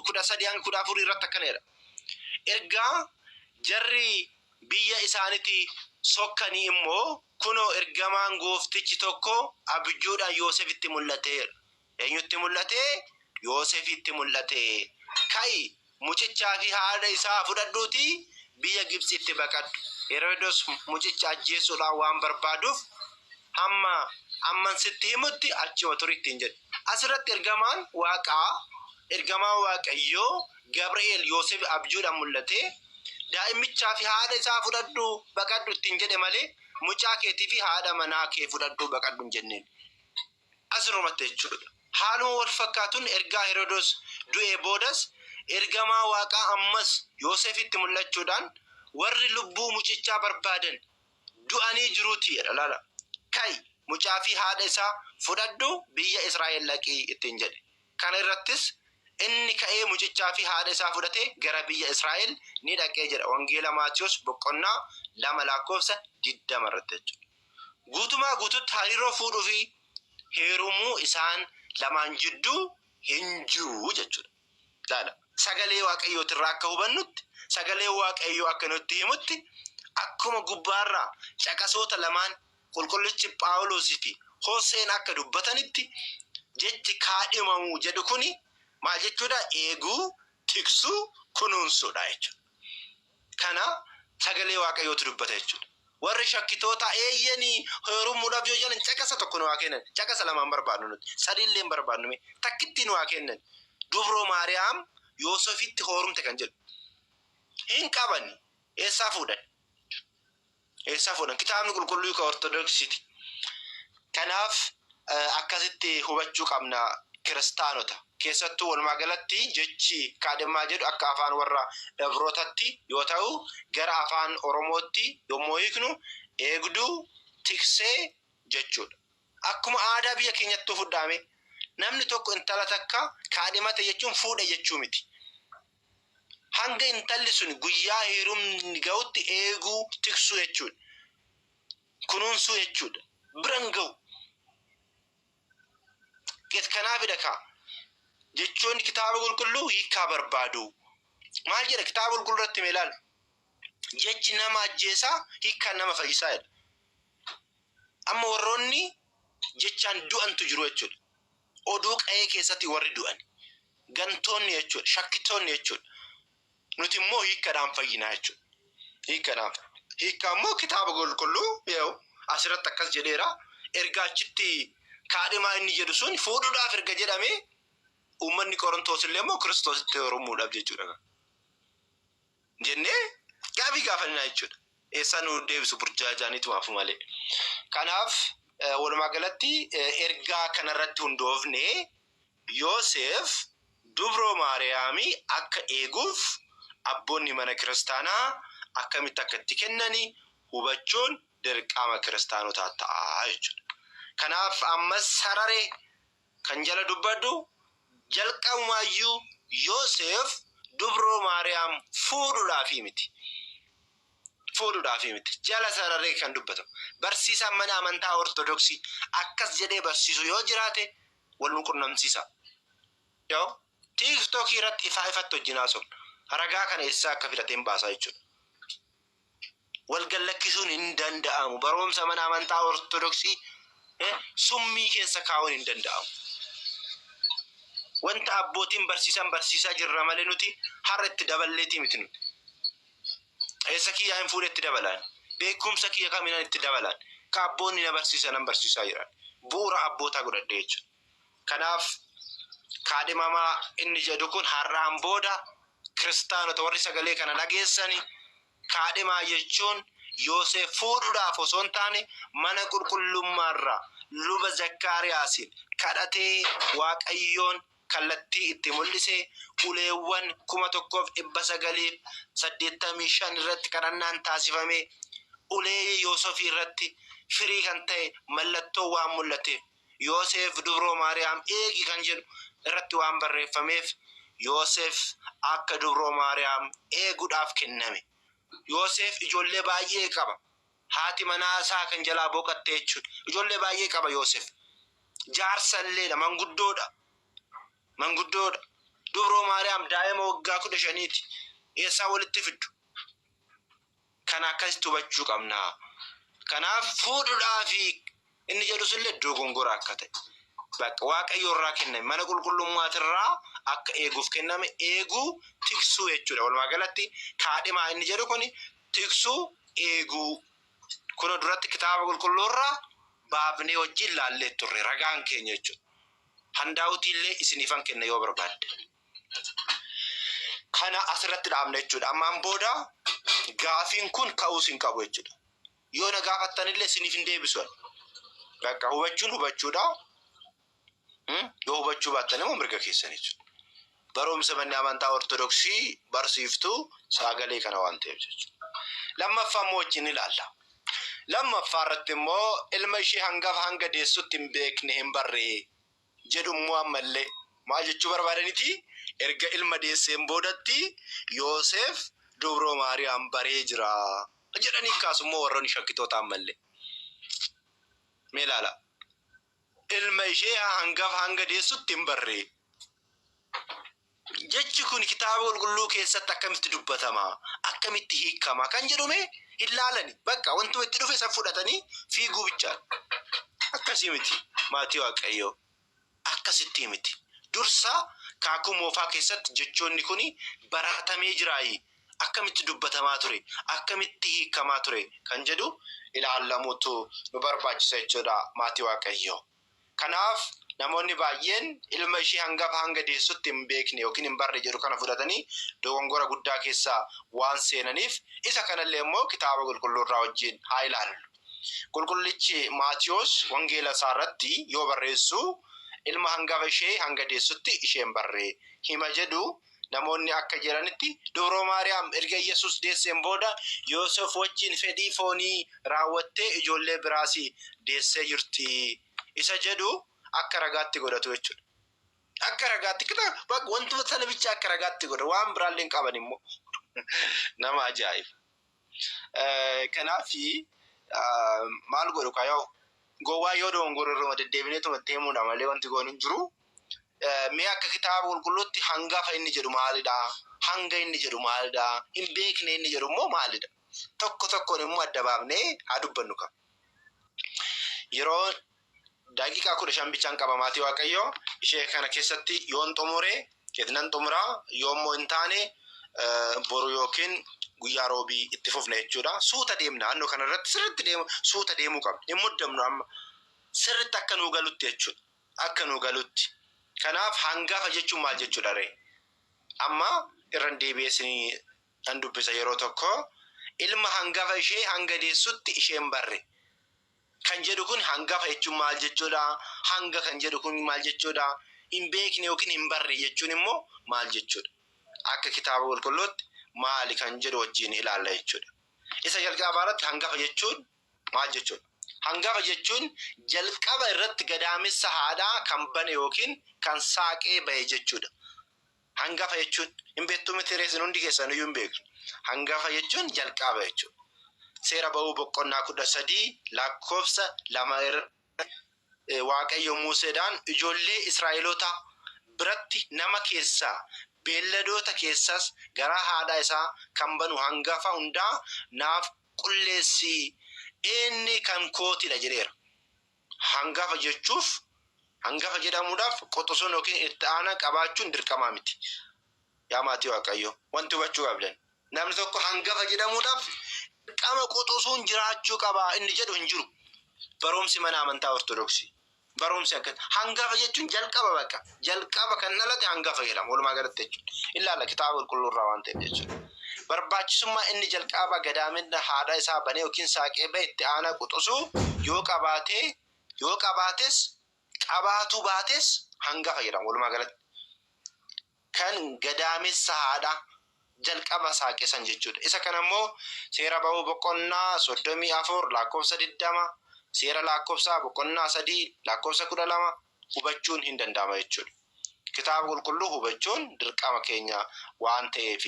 kudha sadii hanga kudha afurii irratti akkana jedha. Ergaa jarri biyya isaanitti sokkanii immoo kunoo ergamaan gooftichi tokko abjuudhaan Yoosefitti mul'ateera. Eenyutti mul'ate? Yoosefitti mul'ate. Ka'i Mucichaa fi haadha isaa fudhadhuutii biyya Gibtsiitti baqadhu. Herodos mucicha ajjeesuudhaan waan barbaaduuf, hamma amman sitti himutti achuma turi ittiin jedhe. As irratti ergamaan Waaqaa, ergamaan Waaqayyoo Gabri'eel Yoosefiif abjuudhaan mul'atee, Daa'imichaa fi haadha isaa fudhadhuu baqadhu ittiin jedhe malee, mucaa keetii fi haadha manaa kee fudhadhuu baqadhu hin jenneen. asirrumatti jechuu dha. Haaluma wal fakkaatuun ergaa Herodoos du'ee boodas ergamaa Waaqaa ammas Yooseefitti mul'achuu dhaan warri lubbuu mucichaa barbaadan du'anii jiruu ti jedha. Ilaalaa! Ka'i, mucaa fi haadha isaa fudhadhu biyya Israa'el dhaqi ittiin jedhe. Kana irrattis inni ka'ee mucichaa fi haadha isaa fudhatee gara biyya Israa'el ni dhaqe jedha Wangeela Maatiwoos boqonnaa 2 lakkoofsa 20 irratti jechuu dha. guutumaa guututti hariiroo fuudhuu fi heerumuu isaan lamaan jidduu hin jiru jechuudha. Ilaala. Sagalee Waaqayyootirraa akka hubannutti, sagalee Waaqayyoo akka nutti himutti, akkuma gubbaarraa caqasoota lamaan qulqullichi Phaawulos fi Hoseen akka dubbatanitti, jechi kaadhimamuu jedhu kuni maal jechuudha? Eeguu, tiksuu, kunuunsuudha jechuudha. kana sagalee waaqayyootu dubbata jechuudha. Warri shakkitootaa eeyyeni heerumuudhaaf yoo jedhan caqasa tokko nu haa kennan. Caqasa lamaan barbaadnu nuti. Sadii illee hin barbaadnu mee. Takkittii nu haa kennan. Dubroo Maariyaam Yoosefitti hoorumte kan jedhu. Hin qabani. Eessaa fuudhan? Eessaa fuudhan? Kitaabni qulqulluu ka Ortodoksiti. Kanaaf akkasitti hubachuu qabna kiristaanota. Keessattuu walumaa galatti jechi kaadhimmaa jedhu akka afaan warra Ibrootatti yoo ta'u gara afaan Oromootti yommuu hiiknu eegduu, tiksee jechuudha. Akkuma aadaa biyya keenyattuu fudhaamee. Namni tokko intala takka kaadhimate jechuun fuudhe jechuu miti. Hanga intalli suni guyyaa heerumni gahutti eeguu, tiksuu jechuudha. Kunuunsuu jechuudha. Bira hin gahu. Get kanaafidha kaa jechoonni kitaaba qulqulluu hiikkaa barbaadu. Maal jedha kitaaba qulqulluu irratti mee ilaali. Jechi nama ajjeesaa hiikkaan nama fayyisaa jedha. Amma warroonni jechaan du'antu jiru jechuudha. Oduu qa'ee keessatti warri du'ani gantoonni jechuudha, shakkitoonni jechuudha. Nuti immoo hiikkadhaan fayyinaa jechuudha. Hiikkadhaan. Hiikkaa immoo kitaaba qulqulluu yaa'u asirratti akkas jedheera. Erga achitti kaadhimaa inni jedhu sun fuudhuudhaaf erga jedhamee uummanni Qorontoos illee immoo Kiristoositti heerumuudhaaf jechuudha. jennee gaafii gaafannaa jechuudha. Eessaa nu deebisu burjaajaaniitu maafu malee. Kanaaf walumaa galatti ergaa kanarratti hundoofne Yooseef dubroo Maariyaami akka eeguuf abboonni mana kiristaanaa akkamitti akka itti kennani hubachuun dirqama kiristaanotaa ta'a jechuudha. Kanaaf ammas sarare Kan jala dubbadhu, jalqabumaayyuu Yooseef dubroo Maariyaam fuudhuudhaafii miti. Fuudhuudhaafii miti. Jala sararee kan dubbatamu. Barsiisaan mana amantaa Ortodoksii akkas jedhee barsiisu yoo jiraate wal nu qunnamsiisaa. Yoo TikTok irratti ifaa ifatti wajjin haasofna. Ragaa kana eessaa akka filateen baasaa jechuudha. wal gallakkisuun hin danda'amu. Baroomsa mana amantaa Ortodoksii summii keessa kaa'uun hin danda'amu. Wanta abbootiin barsiisan barsiisaa jirra malee nuti har'a itti daballeetii miti nuti. Eessa kiyyaa hin fuudhe itti dabalaan. Beekumsa kiyya kaminan itti dabalaan. Ka abboonni na barsiisanan barsiisaa jiran. Bu'uura abbootaa godhadhee jechuudha. Kanaaf kaadhimamaa inni jedhu kun har'aan booda kiristaanota warri sagalee kana dhageessani kaadhimaa jechuun Yooseef fuudhuudhaaf osoo hin taane mana qulqullummaarraa luba Zakkaariyaasiin kadhatee Waaqayyoon kallattii itti mul'ise uleewwan 1985 irratti kadhannaan taasifamee ulee Yoosefii irratti firii kan ta'e mallattoo waan mul'ateef Yooseef dubroo Maariyaam eegi kan jedhu irratti waan barreeffameef Yooseef akka dubroo Maariyaam eeguudhaaf kenname. Yooseef ijoollee baay'ee qaba. Haati manaa isaa kan jalaa boqatte jechuudha. Ijoollee baay'ee qaba Yooseef. Jaarsa illeedha, manguddoodha. Manguddoodha. Dubroo Maariyaam daa'ima waggaa kudha shaniiti. Eessaa walitti fiddu? kana akkasitti hubachuu qabna. Kanaaf fuudhudhaafi inni jedhu sunillee dogongora akka ta'e bakka waaqayyoo irraa kenname mana qulqullummaatirraa akka eeguuf kenname eeguu tiksuu jechuudha. Walumaa galatti kaadhimaa inni jedhu kun tiksuu eeguu kuna duratti kitaaba qulqulluurraa baafnee wajjin laallee turre ragaan keenya jechuudha. Handaawutii illee isiniifan kenna yoo barbaaddan. Kana asirratti dhaabna jechuudha. Ammaan booda gaafiin kun ka'uus hin qabu jechuudha. Yoo na gaafattanillee isiniif hin deebisu. Bakka hubachuun hubachuudha. Yoo hubachuu baattan immoo mirga keessan jechuudha. Barumsa manni amantaa Ortodoksii barsiiftu sagalee kana waan ta'eef jechuudha. Lammaffaa immoo wajjin ilaalla. Lammaffaa irratti immoo ilma ishee hangafa hanga deessutti hin beekne hin barree. jedhu immoo ammallee maal jechuu barbaadaniti? Erga ilma deesseen boodatti Yooseef dubroo Maariyaam baree jira jedhanii kaasu immoo warroonni shakkitoota ammallee. Mee ilaalaa. Ilma ishee hangafa hanga deessutti hin barree. Jechi kun Kitaaba Qulqulluu keessatti akkamitti dubbatama? Akkamitti hiikama? Kan jedhu mee hin laalani. Baqqa wantuma itti dhufe san fudhatanii fiiguu bichaa. Akkasii miti maatii Waaqayyoo. Akkasittii miti. Dursa kaakuu moofaa keessatti jechoonni kun baratamee jiraayi. Akkamitti dubbatamaa ture? Akkamitti hiikamaa ture? Kan jedhu ilaallamuutu nu barbaachisa jechuudha maatii Waaqayyoo. Kanaaf namoonni baay'een ilma ishee hangafa hanga deessutti hin beekne ykn hin barre jedhu kana fudhatanii dogongora guddaa keessa waan seenaniif isa kanallee immoo Kitaaba Qulqulluurraa wajjin haa ilaallu. Qulqullichi Maatiwoos wangeela isaarratti yoo barreessu ilma hangafa ishee hanga deessutti ishee hin barre hima jedhu Namoonni akka jedhanitti Dubroo Maariyaam erga Iyyasuus deesseen booda Yooseef wajjin fedhii foonii raawwattee ijoollee biraas deessee jirti isa jedhu akka ragaatti godhatu jechuudha. Akka ragaatti wantuma sana bicha akka ragaatti godha waan biraallee hin qaban immoo nama ajaa'iba. Kanaaf maal godhu kaa yoo gowwaa yoo dogongora irruma deddeebinee tuma itti himuudha malee wanti goon hin jiru. Mee akka kitaaba qulqulluutti hangafa inni jedhu maalidha? Hanga inni jedhu maalidha? Hin beekne inni jedhu immoo maalidha? Tokko tokkoon immoo adda baafnee haa dubbannu kaa. Yeroo daqiiqaa kudha shan bichaan qaba maatii waaqayyoo ishee kana keessatti yoon xumure itnan xumura yoommoo hin taane boru yookiin guyyaa roobii itti fufna jechuudha suuta deemna naannoo kana irratti sirritti deemu suuta deemuu qabna hin muddamnu amma sirritti akka nuu galutti jechuudha akka nuu galutti kanaaf hangafa jechuun maal jechuudha ree amma irran deebi'ee isinii nan dubbisa yeroo tokko ilma hangafa ishee hanga deessutti isheen barre kan jedhu kun hangafa jechuun maal jechuudha? Hanga kan jedhu kun maal jechuudha? Hin beekne yookiin hin barre jechuun immoo maal jechuudha? Akka kitaaba qulqulluutti maali kan jedhu wajjin ilaalla jechuudha. Isa jalqabaa irratti hangafa jechuun maal jechuudha? Hangafa jechuun jalqaba irratti gadaamessa haadhaa kan bane yookiin kan saaqee ba'e jechuudha. Hangafa jechuun hin beektuu miti ree isin hundi keessan iyyuu hin beektu. Hangafa jechuun jalqaba jechuudha. Seera ba'uu boqonnaa kudha sadii lakkoofsa lama irra Waaqayyo Muuseedhaan ijoollee Israa'elootaa biratti nama keessaa beelladoota keessaas garaa haadhaa isaa kan banu hangafa hundaa naaf qulleessi, inni kan kootidha jedheera. Hangafa jechuuf hangafa jedhamuudhaaf quxusuun yookiin itti aanaa qabaachuun dirqamaa miti. Yaa maatii Waaqayyoo, wanti hubachuu qabdan namni tokko hangafa jedhamuudhaaf dirqama quxusuun jiraachuu qaba inni jedhu hin jiru. Barumsi mana amantaa Ortodoksii barumsi akkas hangafa jechuun jalqaba baqa. Jalqaba kan dhalate hangafa jedhama walumaa galatti jechuudha. Ilaalla kitaaba qulqulluu irraa waan ta'eef jechuudha. Barbaachisummaa inni jalqaabaa gadaaminna haadha isaa banee yookiin saaqee ba'e itti aanaa quxusuu yoo qabaatee yoo qabaates qabaatuu baates hangafa jedhama walumaa galatti. Kan gadaamessa haadha jalqaba saaqe san jechuudha. Isa kana immoo seera ba'uu boqonnaa soddomii afur lakkoofsa digdama seera lakkoofsaa boqonnaa sadii lakkoofsa kudha lama hubachuun hin danda'ama jechuudha. Kitaaba Qulqulluu hubachuun dirqama keenya waan ta'eef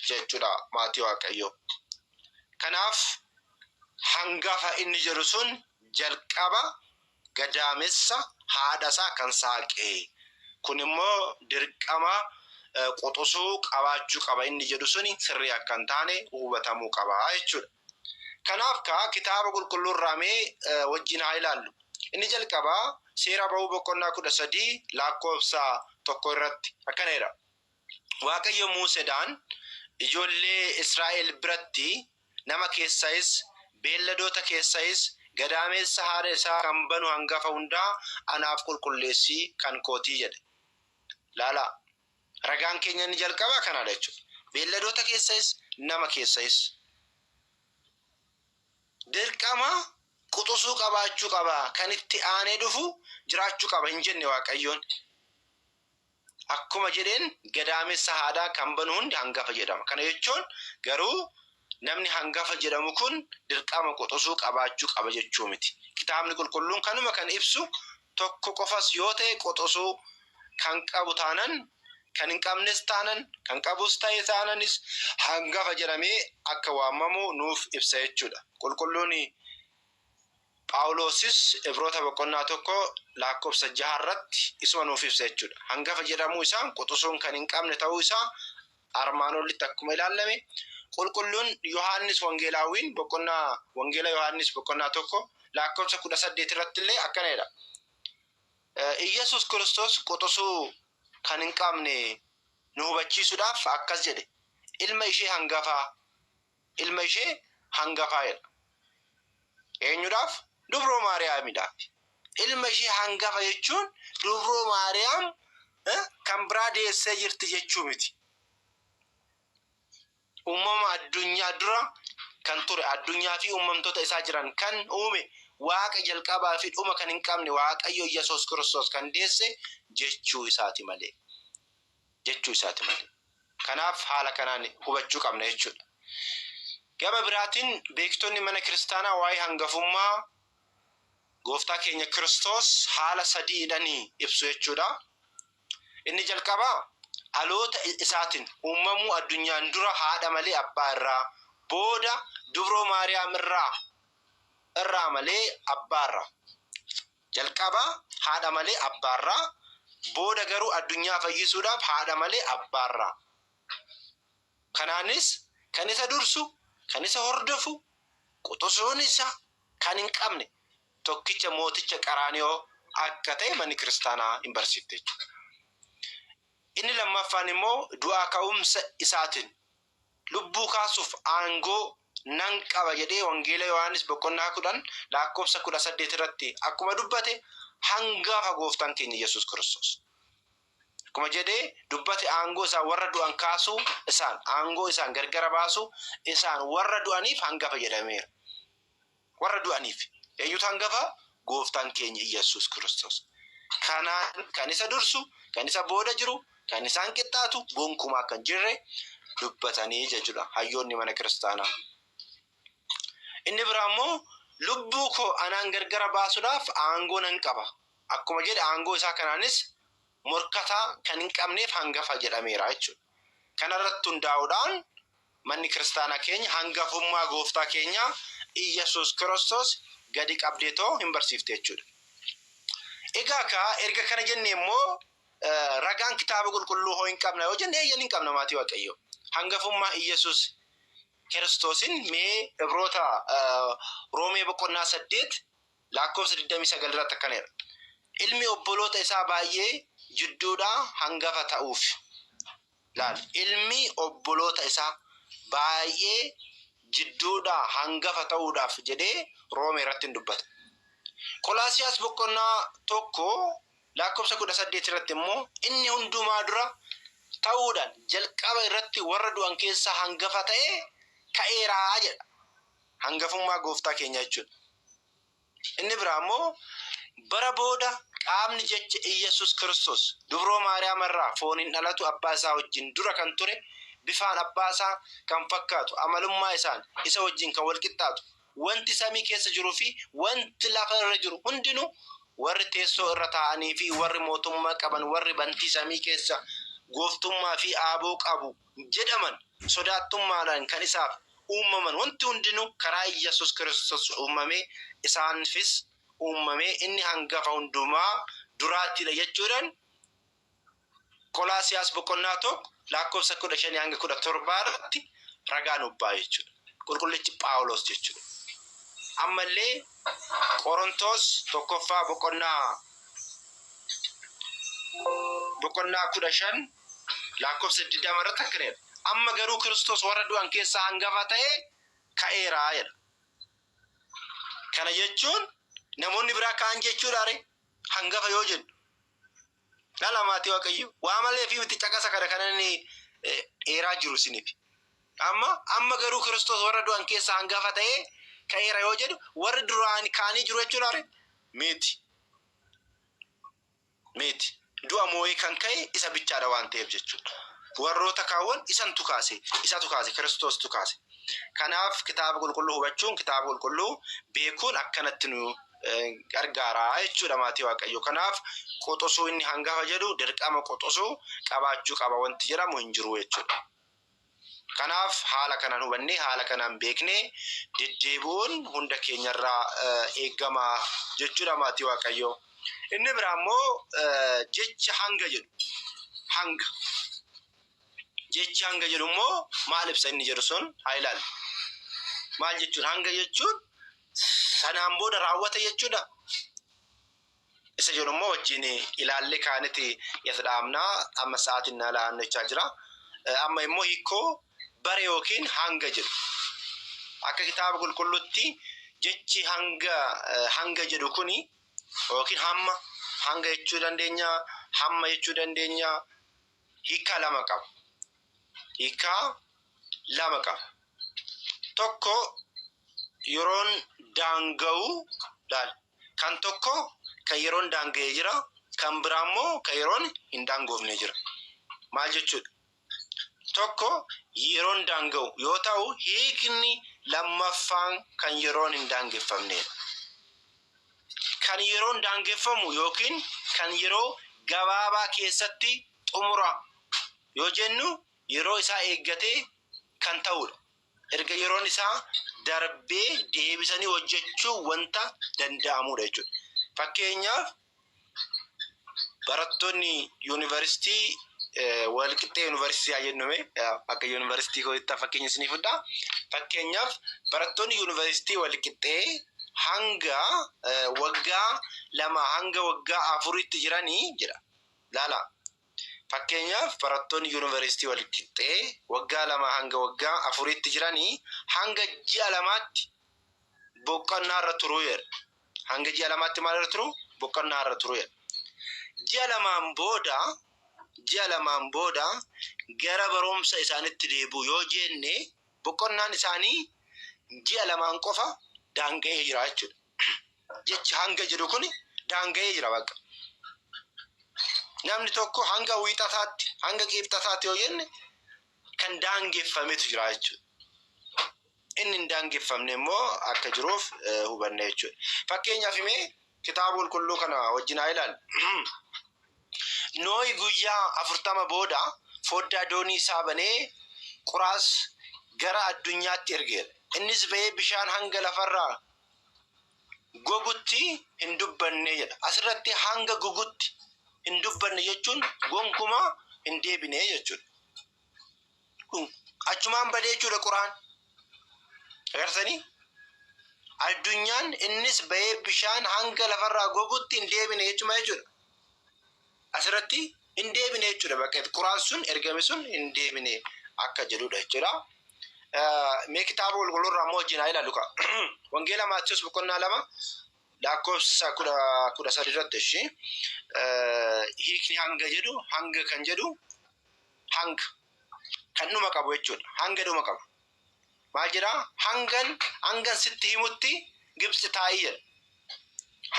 jechuudha maatii Waaqayyoo. Kanaaf hangafa inni jedhu sun jalqaba gadaamessa haadha isaa kan saaqe. Kun immoo dirqama quxusuu qabaachuu qaba inni jedhu suni sirrii akka hin taane hubatamuu qaba jechuudha. Kanaaf kaa Kitaaba Qulqulluu irraa mee wajjin haa ilaallu. Inni jalqabaa Seera Ba'uu boqonnaa 13 lakkoofsa 1 irratti akkana jedha, Waaqayyo Muuseedhaan, Ijoollee Israa'el biratti nama keessayis, beelladoota keessayis gadaameessa haadha isaa kan banu hangafa hundaa anaaf qulqulleessi, kan koo ti jedhe. Ilaalaa! Ragaan keenya inni jalqabaa kanaadha jechuudha. Beelladoota keessayis nama keessayis. Dirqama quxusuu qabaachuu qaba. Kan itti aanee dhufu jiraachuu qaba hin jenne Waaqayyoon. Akkuma jedheen gadaamessa haadhaa kan banu hundi hangafa jedhama. Kana jechuun garuu Namni hangafa jedhamu kun dirqama quxusuu qabaachuu qaba jechuu miti. Kitaabni Qulqulluun kanuma kan ibsu tokko qofas yoo ta'e quxusuu kan qabu taanan, kan hin qabnes taanan, kan qabus ta'e taananis hangafa jedhamee akka waamamu nuuf ibsa jechuu dha. Qulqulluun Phaawuloosis Ibroota boqonnaa 1 laakkobsa 6 irratti isuma nuuf ibsa jechuudha. Hangafa jedhamuu isaan quxusuun kan hin qabne ta'uu isaa armaan olitti akkuma ilaallame qulqulluun Yohaannis Wangeelaawwiin boqonnaa Wangeela Yohaannis boqonnaa 1 laakkobsa 18 irratti illee akkana jedha. Iyyasuus Kiristoos quxusuu kan hin qabne nu hubachiisuudhaaf akkas jedhe ilma ishee hangafaa ilma ishee hangafaa jedha. Eenyudhaaf? Dubroo Maariyaamidhaaf. Ilma ishee hangafa jechuun Dubroo Maariyaam kan biraa deessee jirti jechuu miti. Uumama addunyaa dura kan ture, addunyaa fi uumamtoota isaa jiran kan uume, Waaqa jalqabaa fi dhuma kan hin qabne Waaqayyo Yesuus Kiristoos kan deesse jechuu isaati malee. jechuu isaati malee. Kanaaf haala kanaan hubachuu qabna jechuudha. Gama biraatiin beektonni mana kiristaanaa waa'ee hangafummaa gooftaa keenya Kiristoos haala sadiidhaan ibsu jechuudha. Inni jalqabaa dhaloota isaatiin uumamuu addunyaan dura haadha malee abbaa irraa, booda dubroo Maariyaam irraa irraa malee abbaa irraa. Jalqaba haadha malee abbaarraa, booda garuu addunyaa fayyisuudhaaf haadha malee abbaarraa. Kanaanis kan isa dursu, kan isa hordofu, quxusuun isaa kan hin qabne tokkicha mooticha Qaraaniyoo akka ta'e manni kiristaanaa hin barsiifte jechuudha. Inni lammaffaan immoo du'aa ka'umsa isaatiin Lubbuu kaasuuf aangoo nan qaba jedhee Wangeela Yohaannis boqonnaa 10 lakkoofsa 18 irratti akkuma dubbate hangafa gooftaan keenya Yesuus Kiristoos. Akkuma jedhee dubbate aangoo isaan warra du'an kaasuu isaan aangoo isaan gargara baasuu isaan warra du'aniif hangafa jedhameera. Warra du'aniif eenyutu hangafa? Gooftaan keenya Iyyasuus Kiristoos. Kanaan kan isa dursu, kan isa booda jiru, kan isaan qixxaatu gonkumaa akka hin jirre dubbatanii jechuudha hayyoonni mana kiristaanaa. Inni biraa immoo lubbuu koo anaan gargara baasuudhaaf aangoo nan qaba akkuma jedhe aangoo isaa kanaanis morkataa kan hin qabneef hangafa jedhameera jechuudha. Kanarratti hundaa'uudhaan Manni kiristaanaa keenya hangafummaa gooftaa keenyaa Iyyasuus Kiristoos gadi qabdeetoo hin barsiifti jechuudha. Egaa kaa erga kana jennee immoo ragaan kitaaba qulqulluu hoo hin qabna yoo jenne eeyyan hin qabna maatii waaqayyoo. Hangafummaa Iyyasuus Kiristoosin mee Ibroota Roomee boqonnaa 8 laakkoofsa 29 irratti akkana jedha. Ilmi obboloota isaa baay'ee jidduudhaa hangafa ta'uuf. Laal, ilmi obboloota isaa baay'ee jidduudhaa hangafa ta'uudhaaf jedhee Roomee irratti in dubbata. Qolaasiyaas boqonnaa 1 lakkoofsa 18 irratti immoo inni hundumaa dura ta'uudhaan jalqaba irratti warra du'an keessaa hangafa ta'ee ka'eera jedha. Hangafummaa gooftaa keenyaa jechuudha. Inni biraa immoo bara booda qaamni jecha Iyyasuus Kiristoos dubroo Maariyaam irraa fooniin dhalatu abbaa isaa wajjin dura kan ture bifaan abbaa isaa kan fakkaatu amalummaa isaan isa wajjin kan wal qixxaatu wanti samii keessa jiru fi wanti lafa irra jiru hundinuu warri teessoo irra taa'anii fi warri mootummaa qaban warri bantii samii keessa gooftummaa fi aaboo qabu jedhaman sodaattummaadhaan kan isaaf uummaman wanti hundinuu karaa Iyyasus Kiristos uummamee isaanfis uummamee inni hangafa hundumaa duraattiidha jechuudhaan Qolaasiyaas boqonnaa 1 laakkoofsa 15-17 irratti ragaa nuuf ba'a jechuudha. Qulqullichi Phaawulos jechuudha. Ammallee Qorontoos tokkoffaa boqonnaa boqonnaa 15 Laakkofsa 20 irratti akkana jedha, Amma garuu Kiristoos warra du'an keessaa hangafa ta'ee ka'eera jedha. Kana jechuun namoonni biraa ka'an jechuudhaa ree? Hangafa yoo jennu. Dhala maatii Waaqayyoo. Waa malee fi miti caqasa kana kan inni dheeraa jiru isiniif. Amma amma garuu Kiristoos warra du'an keessaa hangafa ta'ee ka'eera yoo jedhu warri duraan ka'anii jiru jechuudhaa ree? Miti. miti. Du'a moo'ee kan ka'e isa bichaadha waan ta'eef jechuudha. Warroota kaawwan isantu kaase, isatu kaase, Kiristoostuu kaase. Kanaaf kitaaba qulqulluu hubachuun, kitaaba qulqulluu beekuun akkanatti nu gargaara jechuudha maatii Waaqayyoo. Kanaaf quxusuu inni hangafa jedhu dirqama quxusuu qabaachuu qaba wanti jedhamu hin jiru jechuudha. Kanaaf haala kanaan hubannee, haala kanaan beeknee deddeebi'uun hunda keenyarraa eegama jechuudha maatii Waaqayyoo. Inni biraa immoo jecha hanga jedhu. Hanga. Jechi hanga jedhu immoo maal ibsa inni jedhu sun haa ilaallu. Maal jechuun hanga jechuun sanaan booda raawwata jechuudha. Isa jedhu immoo wajjin ilaallee kaaniti as dhaabna. Amma sa'aatiin na laannachaa jira. Amma immoo hiikkoo bara yookiin hanga jedhu. Akka kitaaba qulqulluutti jechi hanga hanga jedhu kuni yookiin hamma hanga jechuu dandeenya, hamma jechuu dandeenya hiikkaa lama qaba. Hiikkaa lama qaba. Tokko yeroon daanga'u laala. Kan tokko kan yeroon daanga'e jira, kan biraa immoo kan yeroon hin daangoofne jira. Maal jechuudha? Tokko yeroon daanga'u yoo ta'u, hiikni lammaffaan kan yeroon hin daangeffamneedha. Kan yeroon daangeffamu yookiin kan yeroo gabaabaa keessatti xumura yoo jennu yeroo isaa eeggatee kan ta'uudha. erga yeroon isaa darbee deebisanii hojjechuun wanta danda'amudha jechuudha. Fakkeenyaaf barattoonni yuunivarsiitii walqixxee yuunivarsiitii haa jennume akka yuunivarsiitii kootti fakkeenya isinii fudha. Fakkeenyaaf barattoonni yuunivarsiitii walqixxee hanga waggaa lama hanga waggaa afuritti jiranii jedha. Laala Fakkeenyaaf, barattoonni yunivarsiitii walqixxee waggaa lamaa hanga waggaa afuriitti jiran hanga ji'a lamaatti boqonnaarra turu jedha. Hanga ji'a lamaatti maalirra turu? Boqonnaarra turu jedha. Ji'a lamaan booda, ji'a lamaan booda gara barumsa isaaniitti deebi'u yoo jenne boqonnaan isaanii ji'a lamaan qofa daanga'ee jira jechuudha. Jechi hanga jedhu kun daanga'ee jira bakka. Namni tokko hanga wiixataatti, hanga qiibxataatti yoo jenne kan daangeffametu jira jechuudha. Inni hin daangeffamne immoo akka jiruuf eh, hubanna jechuudha. Fakkeenyaaf mee kitaaba qulqulluu kana wajjin haa ilaallu. Nooyi guyyaa afurtama booda foddaa doonii isaa banee quraas gara addunyaatti ergeera. Innis ba'ee bishaan hanga lafarraa gogutti hin dubbanne jedha. Asirratti hanga gugutti hin dubbanne jechuun gonkumaa hin deebine jechuudha. Dhum- Achumaan badee jechuudha Quraan. Agarsanii? Addunyaan innis bahee bishaan hanga lafarraa gogutti hin deebine jechuma jechuudha. asirratti hin deebine jechuudha bakka Quraan sun ergame sun hin deebine akka jedhudha jechuudha. Mee kitaaba qulqulluu irraa immoo wajjin haa ilaallu kaa. Wangeela Maatiyus boqonnaa lama lakkoofsa kudha kudha sadi irratti ishi hiikni hanga jedhu hanga kan jedhu hanga kan dhuma qabu jechuudha. Hanga dhuma qabu. maal jedha hangan hangan sitti himutti gibsi taa'i jedha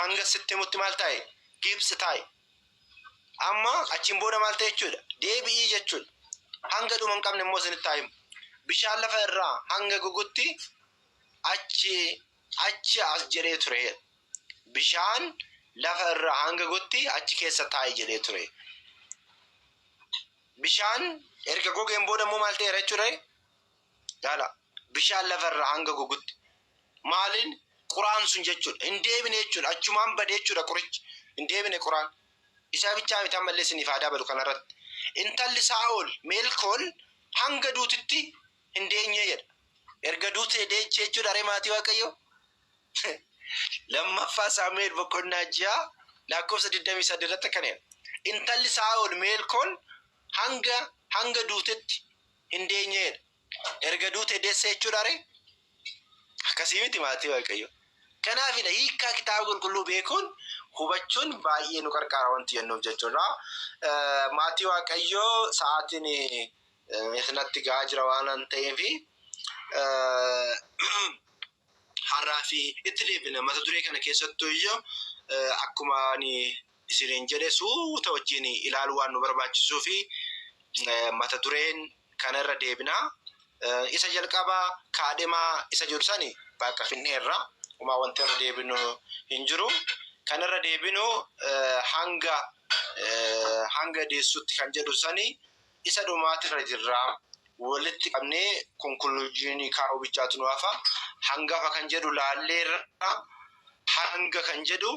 hanga sitti himutti maal taa'e gibsi taa'i amma achiin booda maal ta'e jechuudha deebi'ii jechuudha hanga dhuma hin qabne immoo isinitti haa himu bishaan lafa irraa hanga gogutti achi achi as jedhee ture jedha. bishaan lafa irraa hanga gotti achi keessa taa'i jedhee ture bishaan erga gogeen booda immoo maal ta'eera jechuudha Laala bishaan lafa irraa hanga gogutti. Maaliin quraan sun jechuudha. Hin deebine jechuudha. Achumaan bade jechuudha qurichi. Hin deebine quraan. Isaa bichaa miti ammallee isiniif haa dabalu kanarratti. Intalli Saa'ol Meelkool hanga duutitti hin deenye jedha. Erga duutee deeche jechuudha ree maatii Waaqayyoo. Lammaffaa Saamu'eel boqonnaa ja'a lakkoofsa 23 irratti akkana jedha. Intalli Saa'ol Meelkool hanga hanga duutetti hin deenyeedha. Erga duute deesse jechuudha ree? Akkasii miti maatii Waaqayyoo. Kanaafidha hiikkaa kitaaba qulqulluu beekuun hubachuun baay'ee nu qarqaara wanti jennuuf jechuudha. Maatii Waaqayyoo sa'aatiin isinatti ga'aa jira waanan ta'eef Har'aa fi itti deebina mata duree kana keessattu iyyo akkuma ani isiniin jedhe suuta wajjin ilaaluu waan nu barbaachisuu fi mata dureen kana irra deebina. Isa jalqabaa kaadhimaa isa jedhu sani bakka finneerra umaa wanti irra deebinu hin jiru. Kan irra deebinu hanga hanga deessutti kan jedhu sani isa dhumaatirra jirra. Walitti qabnee konkuluuzyinii kaa'uu bichaatu nu hafa. Hangafa kan jedhu laalleerra. Hanga kan jedhu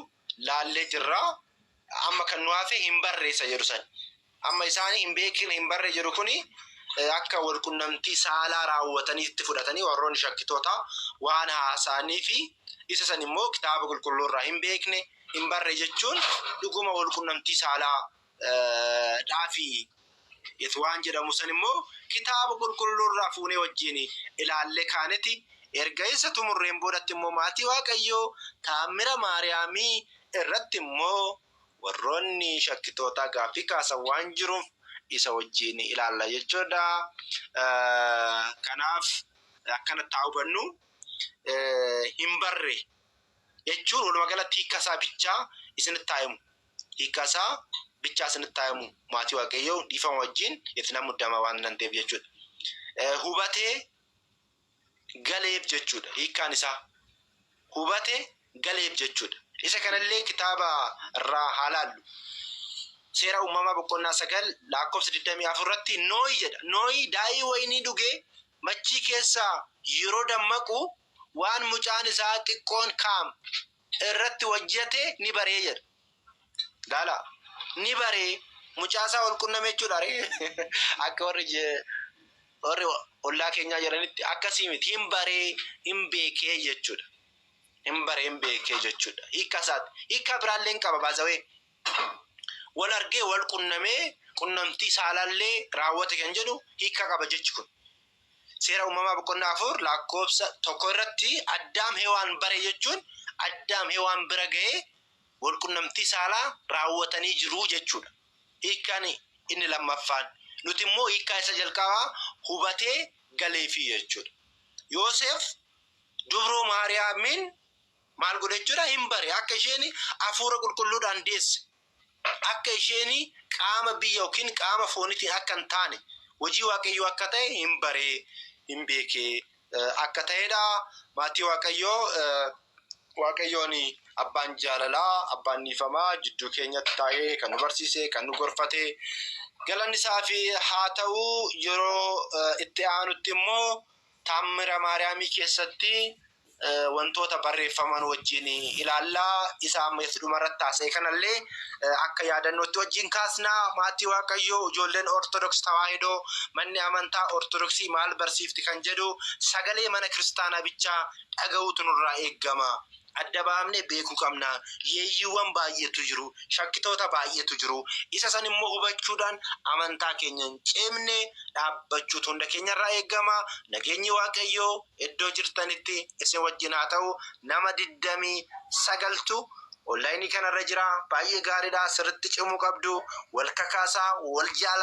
laallee jirra. Amma kan nu hafe hin barreessa jedhu sani. Amma isaani hin beekin hin barre jedhu kuni akka walqunnamtii saalaa raawwataniitti fudhatanii warroonni shakkitoota waan haasa'anii fi isa san immoo kitaaba qulqulluu irraa hin beekne hin barre jechuun dhuguma walqunnamtii saalaa dhaafi it waan jedhamu san immoo kitaaba qulqulluu irraa fuunee wajjiin ilaallee kaaneti erga isa xumurreen boodatti immoo maatii waaqayyoo taammira maariyaamii irratti immoo warroonni shakkitootaa gaaffii kaasan waan jiruuf isa wajjiin ilaalla jechuudha kanaaf akkanatti haa hubannu hin barre jechuun walumaa galatti hiikkasaa bichaa isinitti haa himu hiikkaa isaa bicha asinitti taayamu maatii waaqayyoo dhiifama wajjin itti nan muddama waan nan ta'eef jechuudha. Eh, Hubatee galeef jechuudha hiikkaan isaa. Hubate galeef jechuudha. Isa kanallee kitaaba irraa haa laallu. Seera uumamaa boqonnaa sagal lakkoofsa 24 irratti nooyi jedha. Nooyi daa'ii wayinii dhugee machii keessaa yeroo dammaqu waan mucaan isaa xiqqoon kaam irratti hojjete ni baree jedha. Laala ni baree mucaa isaa wal qunname jechuudha ree akka warri je- warri ollaa keenyaa jedhanitti akkasii miti hin baree hin beekee jechuudha. Hin baree hin beekee jechuudha. Hiika isaati. Hiika biraallee hin qaba baazawee. Wal argee wal qunnamee qunnamtii saalaallee raawwate kan jedhu hiika qaba jechi kun. Seera Uumamaa boqonnaa 4 lakkoofsa 1 irratti Addaam Hewaan bare jechuun Addaam Hewaan bira ga'ee wal qunnamtii saalaa raawwatanii jiru jechuudha. Hiikkaan inni lammaffaan nuti immoo hiikkaa isa jalqabaa hubatee galeefi jechuudha. Yooseef dubroo Maariyaamiin maal godhe jechuudha hin bare akka isheen hafuura qulqulluudhaan deesse Akka isheeni qaama biyya ykn qaama foonitiin akka hin taane, hojii Waaqayyoo akka ta'e hin bare, hin beeke akka ta'ee dha. Maatii Waaqayyoo Waaqayyoon abbaan jaalalaa, abbaan dhiifamaa jidduu keenyatti taa'ee kan nu barsiise, kan nu gorfate galanni isaaf haa ta'u. Yeroo itti aanutti immoo. Taammira Maariyaamii keessatti wantoota barreeffaman wajjin ilaalla. Isa amma itti dhumarratti haasa'e kanallee akka yaadannootti wajjin kaasna. Maatii Waaqayyoo, ijoolleen Ortodoks Tawaahidoo, manni amantaa Ortodoksii maal barsiifti kan jedhu sagalee mana kiristaanaa bichaa dhaga'uutu nurraa eegama. Adda baafnee beekuu qabna. Yeeyyiiwwan baay'eetu jiru. Shakkitoota baay'eetu jiru. Isa san immoo hubachuudhaan amantaa keenya hin ceemne dhaabbachuutu hunda keenya irraa eegama. Nageenyi Waaqayyoo iddoo jirtanitti isin wajjin haa ta'u. Nama 29tu online kana irra jira. Baay'ee gaariidha. Sirritti cimuu qabdu. Wal kakaasaa, wal jaalaa.